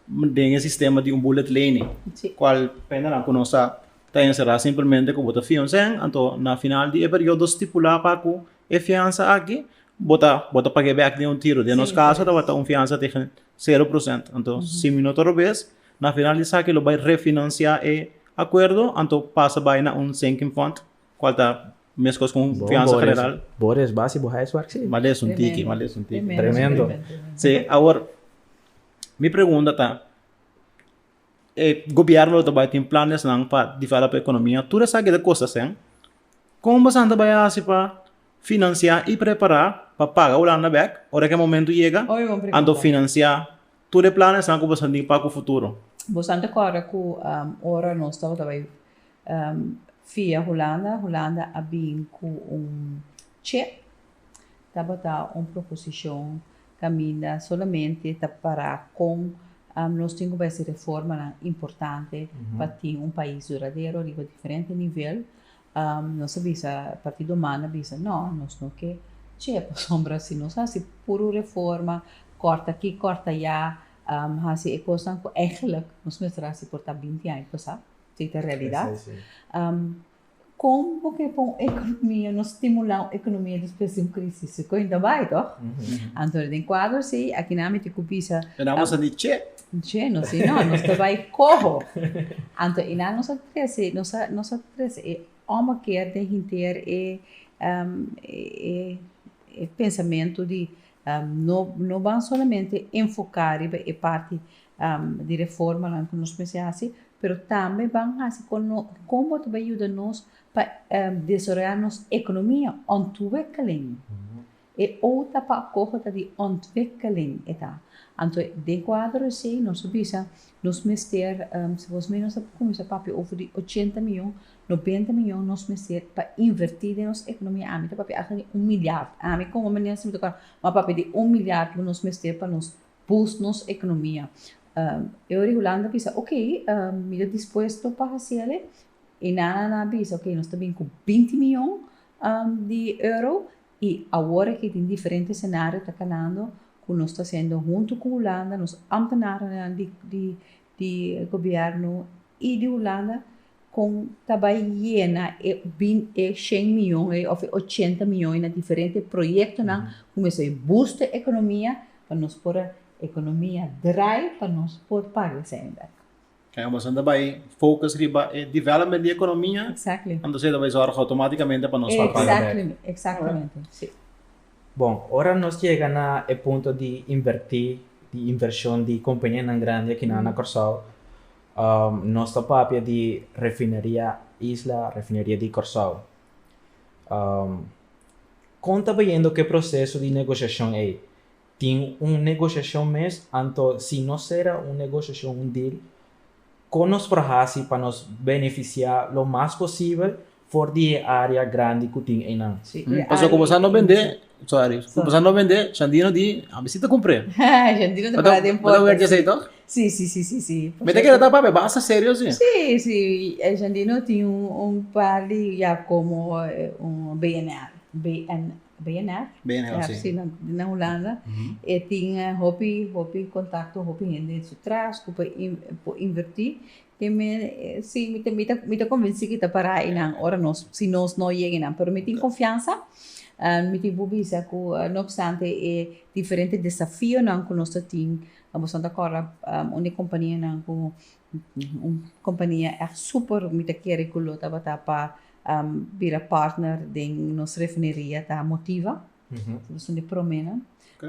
den e sistema di un bullet lening, kual prende nan ku nos ta ta enserá simplemente ku bo ta fia un sèn, anto na final di e periodo stipulá pa ku e fiansa aki bo ta bo ta pag'é bèk den un tiro. Den nos kaso tabata un fiansa tegen sero prosènt. Anto si mi no ta robes Na final di esaki lo bai refinansiá e akuerdo, anto pasa bai na un sinking fund, kual ta meskos ku un fiansa general. Bo res basi bo huiswerk si. M'a les un tiki, m'a les un tiki. Tremendo. Sí, awor mi pregunta ta, e gobièrnu lo ta bai tin planesnan pa develop e ekonomia, tur esaki ta kosta hsen, kon bosan ta bai hasi pa finansiá i prepará pa paga Hulanda bèk ora ku e momentu yega, anto finansiá. Tur e planan esnan ku boso tin pa ku futuro. Bosonan ta kòrda ku ora nos tabata bai via Hulanda, Hulanda a bin ku un che. Tabata un proposishon kaminda solamente ta pará kon nos tin ku bai hasi reformanan importante pa tin un pais duradero riba diferente nivel. Nos a bisa, Partido Human a bisa, no, nos no ke chee pasobra si nos hasi puru reforma, kòrta aki, kòrta ayá, hasi e kosnan ku ègèlèk nos mester a hasi por ta binti aña pasá, si ta realidat. Kon bo ke pon un ekonomia, nos stimulá un ekonomia despues di un krísis? Su kuenta bai tòg. Anto den kuadro así, aki nan a miti ku bisa. Pero amos a di chee. Dje nos di no, nos ta bai coho. Anto e nan nos a trece, nos a, nos a trece e omo keer den hinteer e, um, e, e pensamento di, um, no, no ban solamente enfoca riba e parti, um, di reformanan cu nos mester haci, pero tambe ban haci con no, con bo ta bai yuda nos pa, um, desaroya nos economia on tu wek alén. E outa pa koho ta di ontwikkeling, e ta. Anto den kuadro esei nos a bisa nos mester, segun mi nos a kuminsá papia over di ochenta mion, nobenta mion nos mester pa invertí den nos ekonomia, ami ta papia asta di un milyard, ami komo menen si mi ta kòrda, mi a papia di un milyard lo nos mester pa nos bus nos ekonomia. E ora Hulanda a bisa ok mi ta dispuesto pa hasiele, e nana nan a bisa ok nos ta bin ku binti mion di euro I awor aki tin diferente senario ta kalando ku nos ta hasiendo huntu ku Hulanda, nos ampenarenan di gobièrnu i di Hulanda kon ta bai yena e bin e shen miyon ei òf e ochenta miyon ei na diferente proyektonan ku mester bai busto e ekonomia pa nos por ekonomia drai pa nos por paga esei bek. Kende ku bastante bai focus riba e development di economia, exactly. entonces tabata e zorg automaticamente pa nos papaya. Exactly, exactamente, right. si. Bon, ora nos yega na e punto di inverti, di inversion di companianan grandi aki na, mm. na Corsou, um, nos ta papia di refineria Isla, refineria di Corsou. Um, kon ta bayendo ke proceso di negociacion ei? Tin un negoshacion mes, anto si nos sera un negoshacion, un deal, con nos por haci pa nos beneficia lo mas posibel for di e area grandi cu tin eynan? Pasobra cu boso no bende, sorry, cu boso no bende, Shandino di, a mi si ta cumpre. Shandino ta para den porta. Mester wetja esey, si? Si, si, si, si. Mester keda ta papia basta serio si. Si, si, Shandino tin un par di ya como un BNR, BNR. BNF, di na Hulanda, e tin hopi, hopi kontakto, hopi hende den su tras ku por invertí. Te mi, sí, mi ta konvensí ku i ta pará einan ora nos, si nos no yega einan. Pero mi tin konfiansa, mi tin por bisa ku no opstante e diferente desafionan ku nos ta tin, boso ta kòrda un di e kompanianan ku, un kompania èk super mi ta kere ku lo tabata pa bira partner den nos refineria ta motiva, nos son di promenan,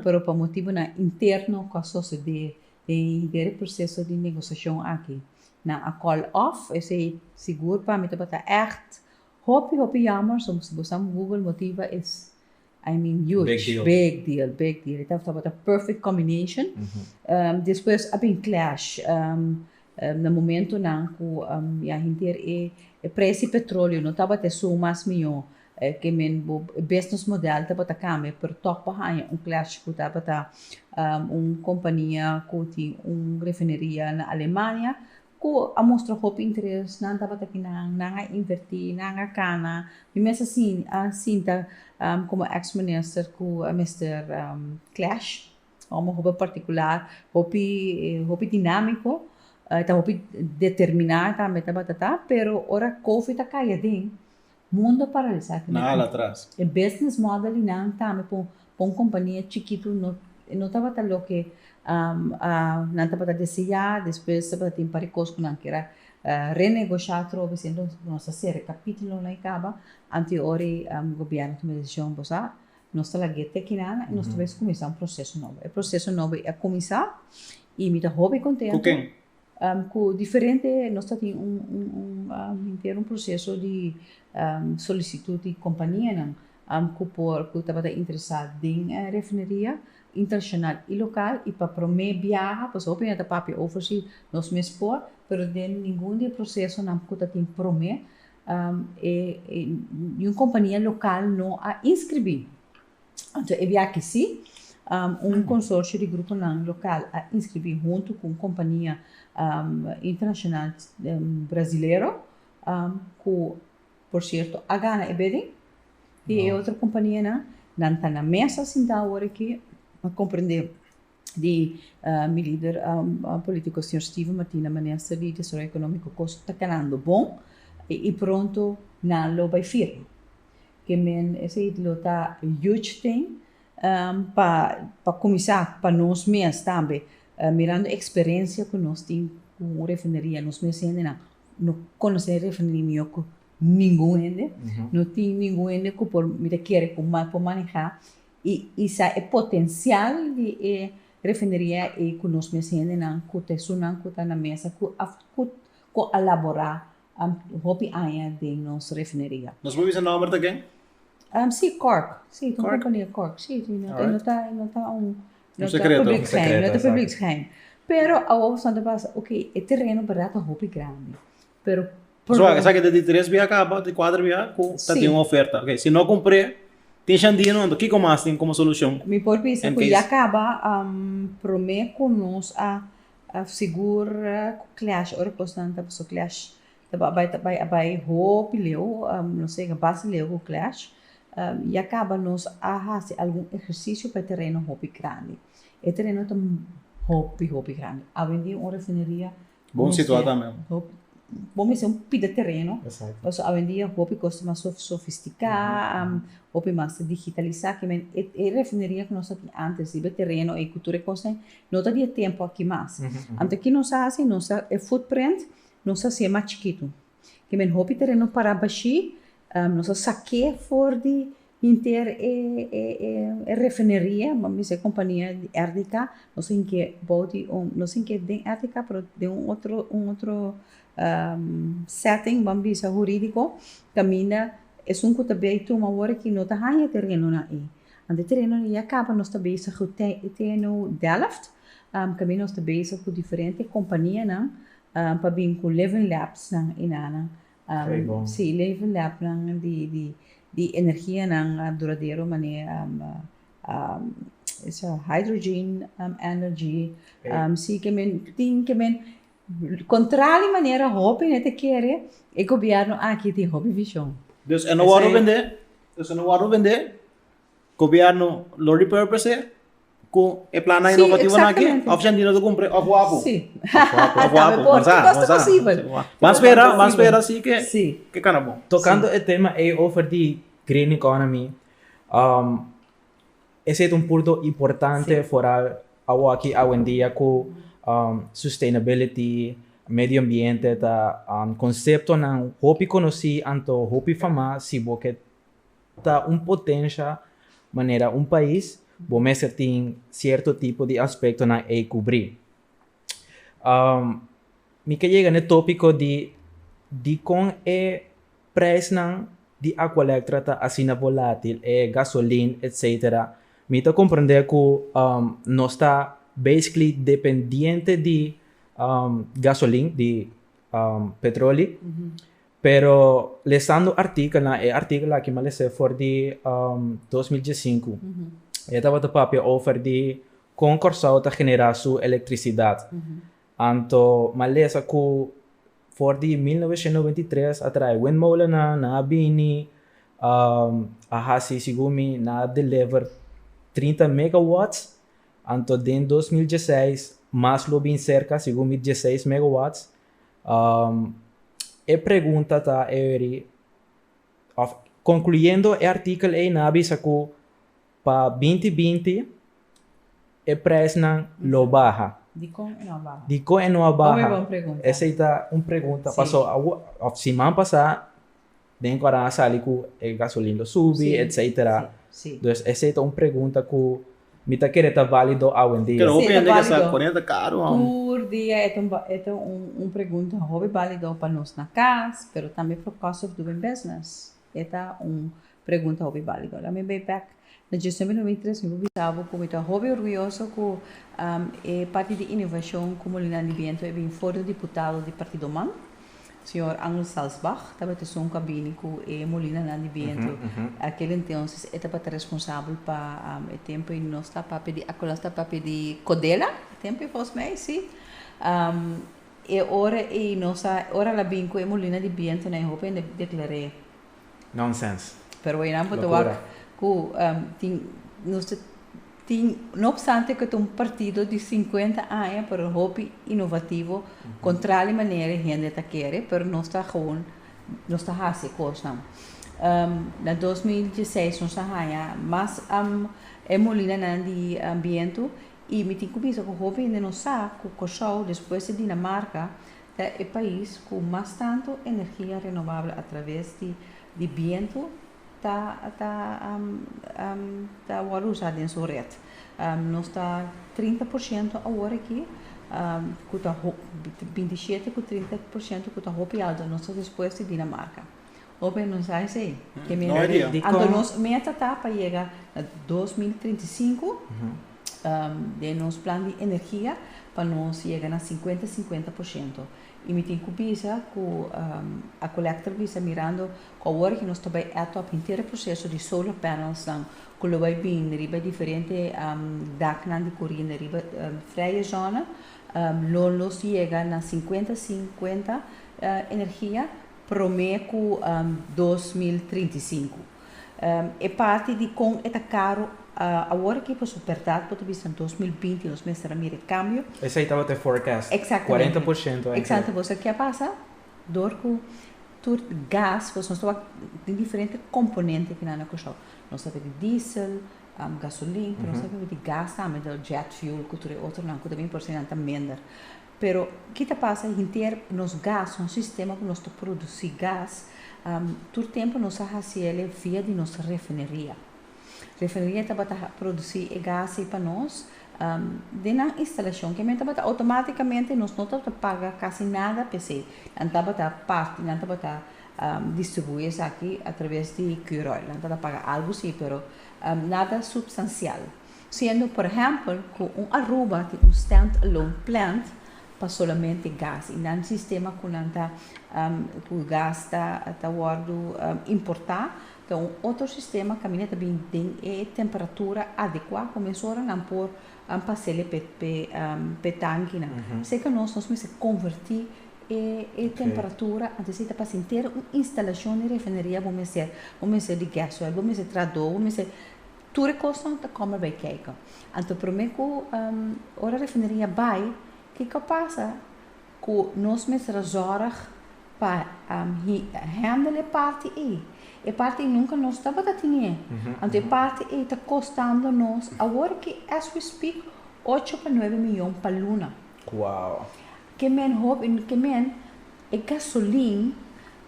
pero pa motibonan interno cu a sosode den hid'e e proceso di negociacion aki, nan a call off, esey sigur pami tabata echt hopi hopi jammer, so si bo sa google motiva es. I mean huge big deal big deal e ta tabata perfect combination despues a bin clash na momentonan ku ya henter e preis di petroleo no tabata esun mas mihó ke men bo business model tabata kambia pero tog bo haña un clash ku tabata un kompania ku tin un refineria na Alemania Ku a mustra hopi interes, nan tabata ki nan, nan a invertí, nan a kana. Mi mes a sin a sinta komo ex minister ku a mester clash, ome hopi partikular, hopi hopi dinámiko, e ta hopi determiná tambe tabata ta, pero ora kofi ta kai aden. Mundo paralisa kende ku e business model di nan tambe pa un kompania chikitu no no tabata loke nan tabata deseá, despues tabata tin un par di kos ku nan kier a renegosha atrobe si enton nos ta sera e kapítulo nan i kaba anto ora gobièrnu tuma e desishon bo sa nos ta lag'é te kinan i nos ta bai kuminsá un proseso nobo, e proseso nobo i a kuminsá i mi ta hopi kontento. Ku diferente nos ta tin un henter un proseso di solisitut di kompanianan ku por ku tabata interesá den e refineria internashonal i lokal i pa promé biaha pasobra hopi nan ta papia over si nos mes por pero den ningun di e prosesonan ku ta tin promé niun kompania lokal no a inskribí. Anto e biachi si, un consorcio di gruponan local a inscribi hunto cu un compania internacional Brasilero, cu por cierto a gana e bidding, y e otro companianan nan ta na mesa sintao awor aki, m'a comprende. di mi lider politico señor Steven Matina manera sa di desarrollo economico cos ta canando bon y pronto nan lo bay firma que men esey lo ta huge thing pa pa cuminsa pa nos mes tambe mirando experencia cu nos tin cu un refineria nos mes hendenan no conoce refineria miyor cu ningun hende no tin ningun hende cu por mi ta kere cu mal por maneha y usa e potencial di e refineria ey cu nos mes hendenan cu ta esunnan cu ta na mesa cu cu a labora hopi aña den nos refineria. Nos por bisa nomber ta ken? Si, Cork, si, ta un compania Cork, si, si, no ta, no ta, no ta un, no ta public geheim, no ta public geheim, pero awo awo asantapas, ok, e tereno berdad ta hopi grandi. pero por Zoa, esa kende di tres biaha kaba, di kuater biaha ku ta Sí. tin un oferta. Ok, si no kumpré, tin shandía no anto. Kiko mas tin komo solushon? Mi por bisa En ku case- ya kaba am, promé ku nos a a sigur ku klèsh ora kosnan ta paso klèsh ta ba- bai ta bai a bai hopi leu am lo sega basta leu ku klèsh am ya kaba nos a hasi algun ehersisio pa e tereno hopi grandi. E tereno ta hopi hopi grandi. Awe dia un refineria Bon situa ta mem. Bo mester un pida tereno, pasobra awendia hopi kos ta mas sofistika, hopi mas ta digitalisá, ke men. E refineria ku nos ta tin ántes riba e tereno ei ku tur e kosnan no ta di e tempu aki mas. Anto ke nos a hasi, nos a, e footprint nos a hasié mas chikitu. Ke men hopi tereno pará bashí, nos a sak'é for di hinter e refineria, bo a bisa e kompania di RDK, nos tin ke bou di un, nos tin ke den RDK pero den un otro, un otro sèting, bo a bisa hurídiko, kaminda esun ku ta bei tuma wòrdu ki no ta haña terenonan ei. Anto e terenonan ya kaba nos ta bisa ku TNO Delft, kaminda nos ta bisa ku diferente kompanianan pa bin ku leven labs nan i na nan si leven lab nan di di di energia nan duradero mane hydrogen energy si ke men tin ke men kontrali manera hopi nan ta kere e gobièrnu aki tin hopi vishon. Dus e no wòrdu vendé? Dus e no wòrdu vendé? Gobierno lo repurpose cu e plannan innovativonan aki? Sí, exactamente. Of Shantina lo cumpre of Wapu? Sí. Of Wapu. Of Wapu. Por Mansa, todo mansa. posible. Ban spera, Todo ban spera si que, Sí. que cana bon. Tocando e tema ei over di green economy, um, esey ta un punto importante Sí. foral awoaki awendia cu, um, sustainability, medio ambiente ta, um, conceptonan hopi conoci anto hopi famá si bo ke Ta un potencia manera un pais bo mester tin cierto tipo di aspectonan ey cubri. Mi ke yega n'e topico di dicon e prijsnan di Aqua Lectra ta asina volatil, e gasolin etcetera. Mi ta comprende cu nos ta basically dependiente di gasolin, di petroli, Pero lesando artikelnan, e artikel aki m'a les'é for di dos mil diesinku, e tabata papia over di kon Kòrsou ta generá su elektrisidat. Anto m'a lesa ku for di mil novecientos noventa i tres a traha e windmolennan, nan a bini, a hasi, segun mi, nan a deliver trinta megawats, anto den dos mil dieseis mas lo bin serka, segun mi dieseis megawats, e pregunta ta Avery, òf konkluyendo e artikel eynan a bisa ku pa binti binti e presnan lo baha. Dikon e no a baha? Dikon e no a baha? Esei ta un pregunta. Paso òf siman pasá den ku aran a sali ku e gasolin lo subi etcetera dus esei ta un pregunta ku mi ta kere ta valido awendia. Pero hopi hende ke sa ku ane'e ta karu hon. Tur dia e ta e ta un pregunta hopi balido pa nos na kas pero tambe for cost of doing business e ta un pregunta hopi balido. Lami bay back Na djustion di nomi tres mi por bisa bo ku mi ta hopi orguyoso ku e parti di innovashon ku Molinan di Biento e bin for di diputado di partidonan, señor Angel Salzbach, tabata esun ku a bini ku e molinanan di biento. Akel entonses e tabata responsabel pa e tempu ei nos ta papia di akola nos ta papia di Kodela e tempu ei volgens mij, si. E ora ei nos a ora el a bin ku e molina di bientonan e hopi a deklar'é. Nonsense. Pero eynan por ta wak cu tin, nos ta tin, no obstante cu ta un partido di cincuenta aña pero hopi inovativo contra di manera e hende ta kere, pero nos ta gewoon, nos ta haci e cosnan. Na dos mil dieseis nos a haya mas e molinanan di bientu y mi tin cuminsa cu hopi hende no sa cu Curaçao, despues di Dinamarca, Ta e pais cu mas tanto energia renovabel atraves di di bientu ta ta ta wordo usa den su red. Nos ta trinta por ciento awor aki cu ta binti shete cu trinta por ciento cu ta hopi alto, nos ta despues di Dinamarca. Hopi nos a esei. Te mira di con. Anto nos meta ta pa yega na dos mil trinta i sinku den nos plan di energia pa nos yega na sinkuenta sinkuenta por shento. I mi tin ku bisa ku a collector bisa mirando ku awor aki nos ta bai add up henter e proseso di solar panelsnan ku lo bai bini riba e diferente daknan di koriende riba freie zona lo nos yega na sinkuenta sinkuenta energia. promé ku dos mil trinta i sinku. E parti di kon e ta karu awor aki pasobra bèrdat bo ta bisa dos mil binti nos mester a mira e kambio. Esei tabata e forecast, kuarenta por shento a inklui. Exactamente. Boso ke a pasa dor ku tur gas, pasobra nos tabata den diferente komponente aki nan na Kòrsou. Nos tabata di diesel, gasolin, pero nos tabata di gas tambe, jet fuel ku tur e otronan ku ta bin por esei nan ta mender. Pero ki ta pasa hinter nos gas, un sistema ku nos ta produsí gas, tur tempu nos a hasi el via di nos refineria. Refineria tabata produsí e gas ei pa nos den nan instalashon. Ke men tabata outomátikamente nos no tabata paga kasi nada pa esei. Nan tabata parti, nan tabata distribuí esaki atraves di Q-Roil. Nan tabata paga algu sí, pero nada supstansial. Siendo por ehempel cu un Aruba tin un stand-alone plant pa solamente gas y nan sistema cu nan ta cu gas ta wordo importa ta un otro sistema caminda ta bini den e temperatura adecua cu mesora nan por pasele p'e tankinan. Seca nos nos mester converti e temperatura antes di ta pasa henter un instalacion di refineria bo mester bo mester di gas oil bo mester trado bo mester Tur e kosnan ta kòmen bai kèk'e. Anto promé ku ora refineria bai, kiko a pasa ku nos mester zòrg pa hèndel e parti ei? E parti ei nunka nos tabata tenié. Anto e parti ei ta kostando nos awor aki as we speak ocho pa nuebe miyon pa luna. Wow! Ke men hopi, ke men. E gasolin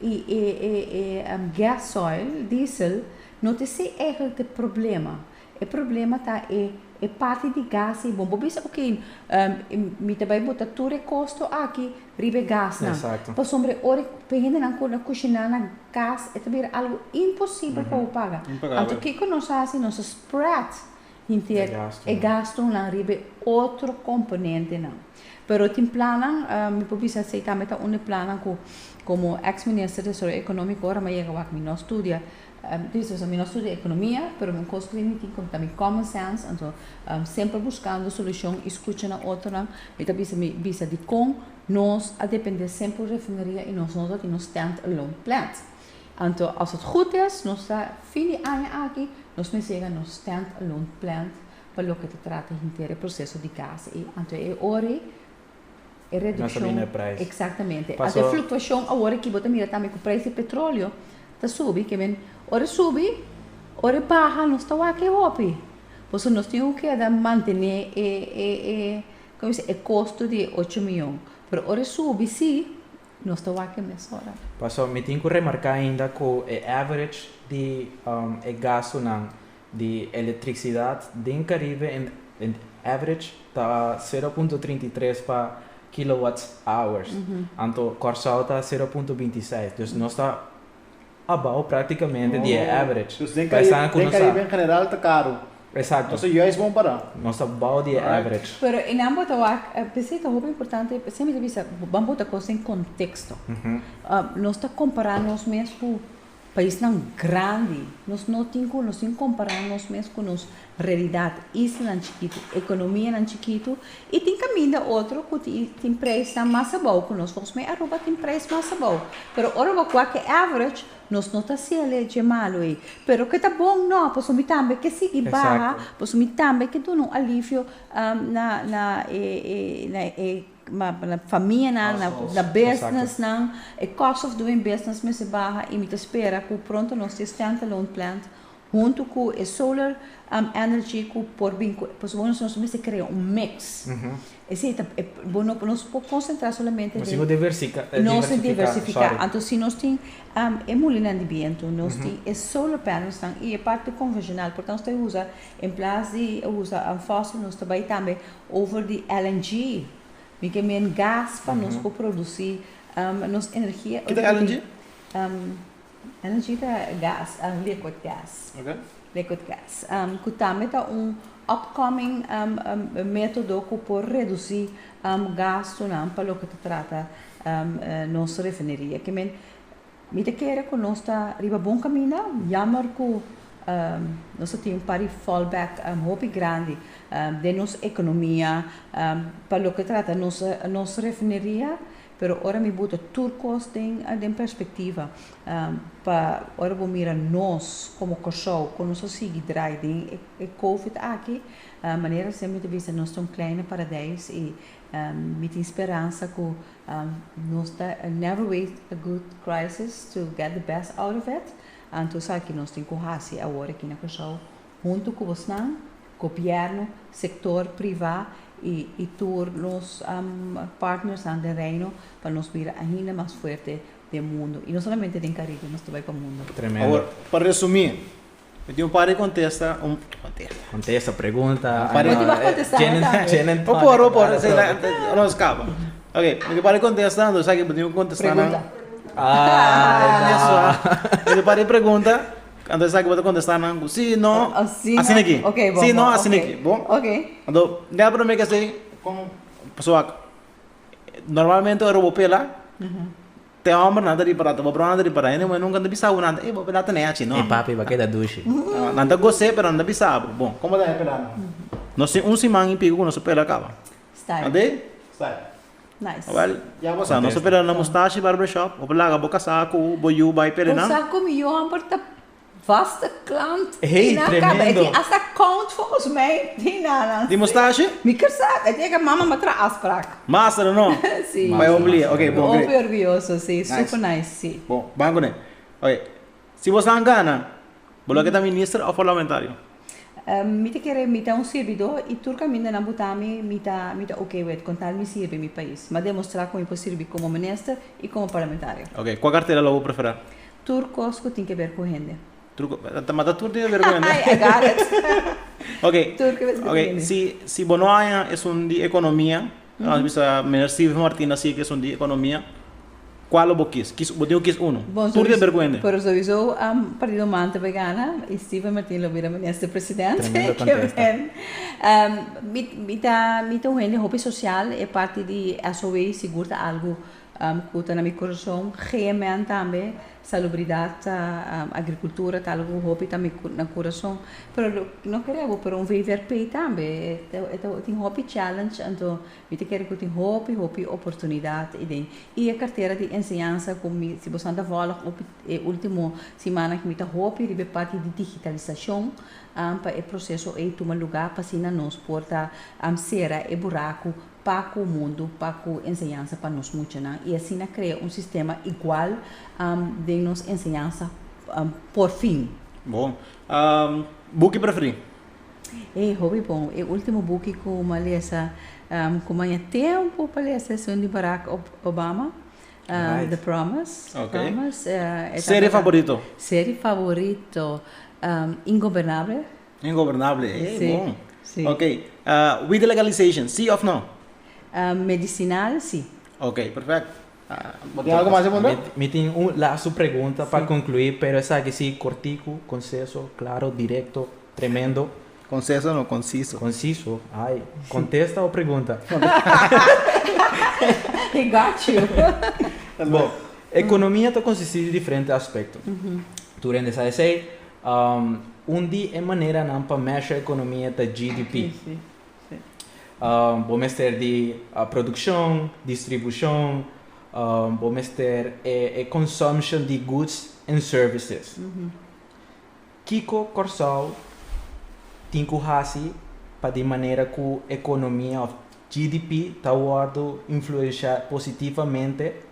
y e e e gas oil, diesel, no ta esey eigenlijk de problema. E problema ta e e parti di gas y bon bo bisa ok mi ta bay bota tur e costo aki riba e gasnan. Exacto. Pasobra e ora pa e hendenan cu na cushina na gas e ta bira algo imposible pa bo paga. Impagable. Anto kico nos a haci? Nos a spread. Hinti e gastunan riba e otro komponentenan. Pero tin plannan, mi por bisa asei tambe ta un di plannan ku komo eks minister desaroyo ekonómiko ora mi a yega wak mi no studia, disosa mi no studia ekonomia pero un kos ku mi tin ku ta mi common sense anto semper buskando solushon i skucha na otronan mi ta bisa mi bisa dikon nos a depende semper un refineria i nos no ta tin un stand alone plant. Anto as het goed is nos ta fin di aña aki nos mester yega nos stand alone plant pa loke ta trata henter e proceso di gas ei anto e ori e reduccion exactamente anto e fluctuacion awor aki bo ta mira tambe cu prijs di petroleo ta subi ke men ora subi ora baha nos ta wak e hopi pues nos tin cu keda mantene e costo di ocho miyon pero ora subi si Nos ta wak e mesora. Paso mi tin cu remarca ainda cu e average di e gastunan di electricidad den Caribe en average ta sero punto trinta i tres pa kilowatts hours, anto Corsow ta sero punto binti seis. Dus nos ta. a bao práktikamente di e average. Dus den Caribe, den Caribe en general ta karu. Exacto. Nos ta juist bon para. Nos ta bao di e average. Pero e nan bo ta wak, p'esei ta hopi importante, esei mi ta bisa, ban bota cos den contexto. Nos ta compara nos mes cu paisnan grandi. Nos no tin cu, nos tin compara nos mes cu nos Realidat, islanan chikitu, ekonomianan chikitu i tin kaminda otro ku tin preisnan mas abou ku nos. Volgens mei Aruba tin preis mas abou, pero ora bo kua ke average nos no ta hasiel'e dje malu ei. Pero ke ta bon nò, pasobra mi tambe ke sigui baha, pasobra mi tambe ke duna un alivio na na e e na e famianan, na businessnan, e cost of doing business mester baha i mi ta spera ku pronto nos tin standalone plant. Huntu ku e solar energy ku por bin ku pasobra nos nos mester krea un mix. Esei ta e bo no nos por konsentrá solamente den. Nos tin ku diversika diversifiká. Nos tin diversifiká. Sòri. Anto si nos tin e mulinan di bientu, nos tin e solar panelsnan i e parti konvenshonal por nos ta usa en plas di usa fòsil nos ta bai tambe over di LNG mi ke men gas pa nos por produsí nos energia. Kit e LNG? Energy ta gas, liquid gas, liquid gas, ku tambe ta un upcoming metodo ku por redusi gastunan pa loke ta trata nos refineria. Ke men, mi ta kere ku nos ta riba bon kaminda, yammer ku nos ta tin un par di fallback hopi grandi den nos ekonomia pa loke ta trata nos refineria. Pero ora mi buta tur kos den den perspektiva pa ora bo mira nos komo Kòrsou kon nos a sigui drai den e covid aki manera siempre mi ta bisa nos ta un kleine paradijs i mi tin speransa ku nos ta never waste a good crisis to get the best out of it anto esaki nos tin ku hasi awor aki na Kòrsou Huntu ku bosnan, gobièrnu, sektor privá i tur nos partnersnan den Reino pa nos bira ainda mas fuerte den mundu. I no solamente den Karibe, nos ta bai pa mundu. Awor, pa resumí, mi tin un par di kontesta, un kontesta. Kontesta pregunta. Un par di. No tin wak kontestá, no ta. Gin en tòne. O por, o por, si la no skapa. Ok, mi tin un par di kontesta, entonces aki bo tin kontestanan. Pregunta. Ah, esnan. Mi tin un par di pregunta. Anto esaki bo ta kontestá nan ku sí, no, asina aki. Sí, no, asina aki. Bon. Anto, dea promé k'esei kon pasobra normalmente ora bo pela, te hòmbernan ta ripará, te babrounan ta ripará, e muhé nunka no ta bisa bo nada, ey bo a pela tenei achi, no. E papi a keda dushi. Nan ta gos'é pero nan ta bisa bo. Bon, kon bo ta haña pela nan? Nos tin un siman i piku ku nos a pela kaba. Anto e. Awel, ya bo sa, nos a pera na Mustashi Barber Shop. Bo por laga bo kasá ku bo yu bai pere nan. Bo sa ku mi yu amper ta vaste klant di nan kaba. E tin asta kount volgens mij di nannan. Di Mustashi? Mi ker sa, e tin eke mama mi a traha afsprak. Master a no? Si. Pa e omplie. Oke, bon great. Mi hopi orguyoso, si. Super nice, si. Bon, baha kuné. Oke. Si bo sa gana, bo lo ke ta minister of parlamentario? Mi ta kere, mi ta un sirbidó i tur kamindanan bo ta mi, mi ta mi ta ok wet, kon tal mi sirbi mi pais. M'a demostrá ku mi por sirbi komo minister i komo parlamentario. Ok, kua kartera lo bo preferá? Tur kos ku tin ke ber ku hende. Tur ko, ta mata tur tin ke ber ku hende? I got it. Ok, Tur kos ku tin ku hende. ok, si si bo no haña esun di ekonomia. Nos a bisa Minister Steven Martin a sigue cu esun di economia. Cual lo bo kis? Kis, bo tin cu kis uno. Bon, Tur den bercuen den. pero sowieso a Partido Manta por a gana y Steven Martin lo bira Minister President. Tremendo contesta. Mi, mi ta, mi ta un hende hopi social, e parti di SOE sigur ta algo cu ta na mi corazon. GMN tambe. Salubridat, agrikultura ta algu ku hopi ta mi na kurason. Pero lo no kere abo pero un VVRP tambe e ta tin hopi challenge anto mi ta kere ku tin hopi hopi oportunidat i den. I e kartera di enseñansa ku mi si boso nan ta vòlg hopi e ultimo simannan mi ta hopi riba e parti di digitalisashon pa e proseso ei tuma lugá pa asina nos por ta sera e buraku pa ku mundu, pa ku enseñansa pa nos muchanan, i asina krea un sistema igual den nos enseñansa por fin. Bon. Buki preferí? E hopi bon. E último buki ku m'ha lesa, ku m'han ya tempu pa lesa, es un di Barack Obama, The Promise. Serie favorito? Serie favorito, Ingobernable. Ingobernable, ey Sí, bon. sí. Ok, ah, weed legalization, sí of no? Ah, medicinal si. Ok, perfect. Ah, bo tin algo mas di a puntra? Mi tin un lastu pregunta pa conclui, pero esaki si corticu, conceso, claro, directo, tremendo. Conceso no, conciso. Conciso, ay. Contesta o pregunta? He got you. Bo, economia ta consisti di diferente aspecto. Tur hende sa esey, Un di e maneranan pa mesha economia ta GDP. Bo mester di produccion, distribucion, bo mester e consumption di goods and services. Kico Corsou tin cu haci pa di manera cu economia of GDP ta wordo influencia positivamente?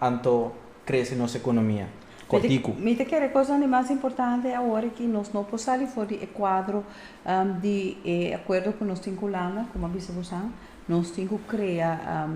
anto crece nos economia cortico. Mi ta kere cosnan di mas importante awor aki nos no por sali for di e cuadro di e acuerdo cu nos tin cu Hulanda, como a bisa busan, nos tin cu crea,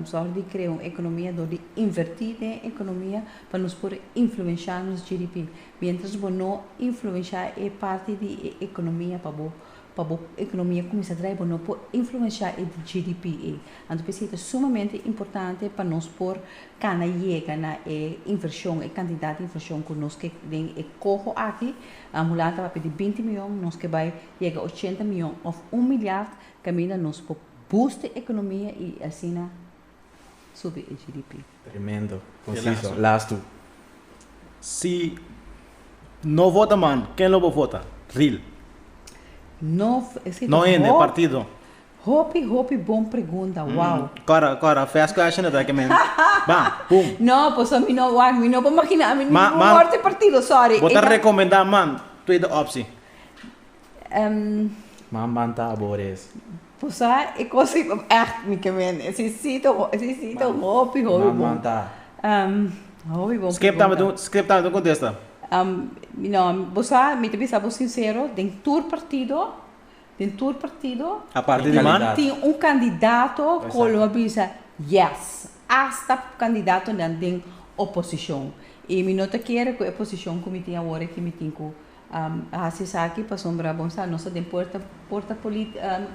zorg di crea un economia door di inverti den e economia pa nos por influencia nos GDP. Mientras bo no influencia e parti di e economia pa bo. Pa bo economia cuminsa draai bo no por influencia e GDP ey. Anto por esey ta sumamente importante pa nos por cana yega na e inversion, e cantidad di inversion cu nos ke den e coho aki, Ambulance ta papia di binti miyon, nos ke bay yega ochenta miyon of un milyard, caminda nos por boost e economia y asina. subi e GDP. Tremendo, conciso, laas tu. Si no vota man, ken lo bo vota? Ril. No, esi ta hopi. No ende partido. Hopi hopi bon pregunta, wow. Kora kora, fast question a ta eke mens. Ba, boom. No, paso mi no wak, mi no por makina ami ningun word di partido, sorry. Bo ta recomenda man, tweede optie. Em. Manman ta aborees. Por sa e cos i echt mi ke mende. Si si ta si si ta hopi hopi bon. Manman ta. Em. Hopi bon Skip ta pregunta. met skip ta met un contesta. Em no por sa mi ta bisa bo sincero den tur partido den tur partido. Aparte di man. Tin tin un candidato cu lo a bisa yes hasta candidatonan den oposicion i mi no ta kere cu e posicion cu mi tin awor aki mi tin cu A hasi esaki pasobra bon sa nos ta den puerta porta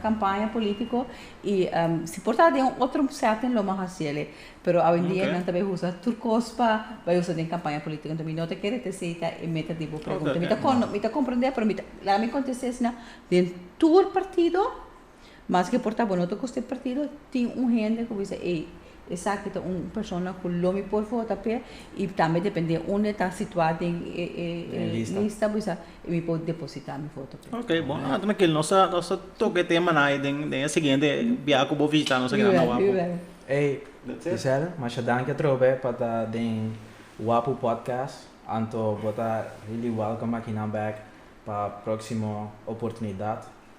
campaña politico y si por ta den un otro setting lo m'a hasi el'e pero awendia nan ta bay usa tur cos pa bay usa den campaña politico entonces mi no ta kere te si ta e meta di bo pregunta mi ta comprende pero mi ta laga mi contesta esnan den tur partido. Maske por ta bo no ta kost e partido, tin un hende ku bisa ey esaki ta un persona ku lo mi por vota p'e i tambe depende unda e ta situá den e e e lista bisa mi por depositá mi voto p'e. Ok bo, ah trankil nos ta nos ta toka e tema nan den den e siguiente biaha ku bo vishitá nos aki nan na Wapu. Ey Giselle, masha danki atrobe pa ta den Wapu Podcast anto bo ta really welcome aki nan back pa próksimo oportunidat.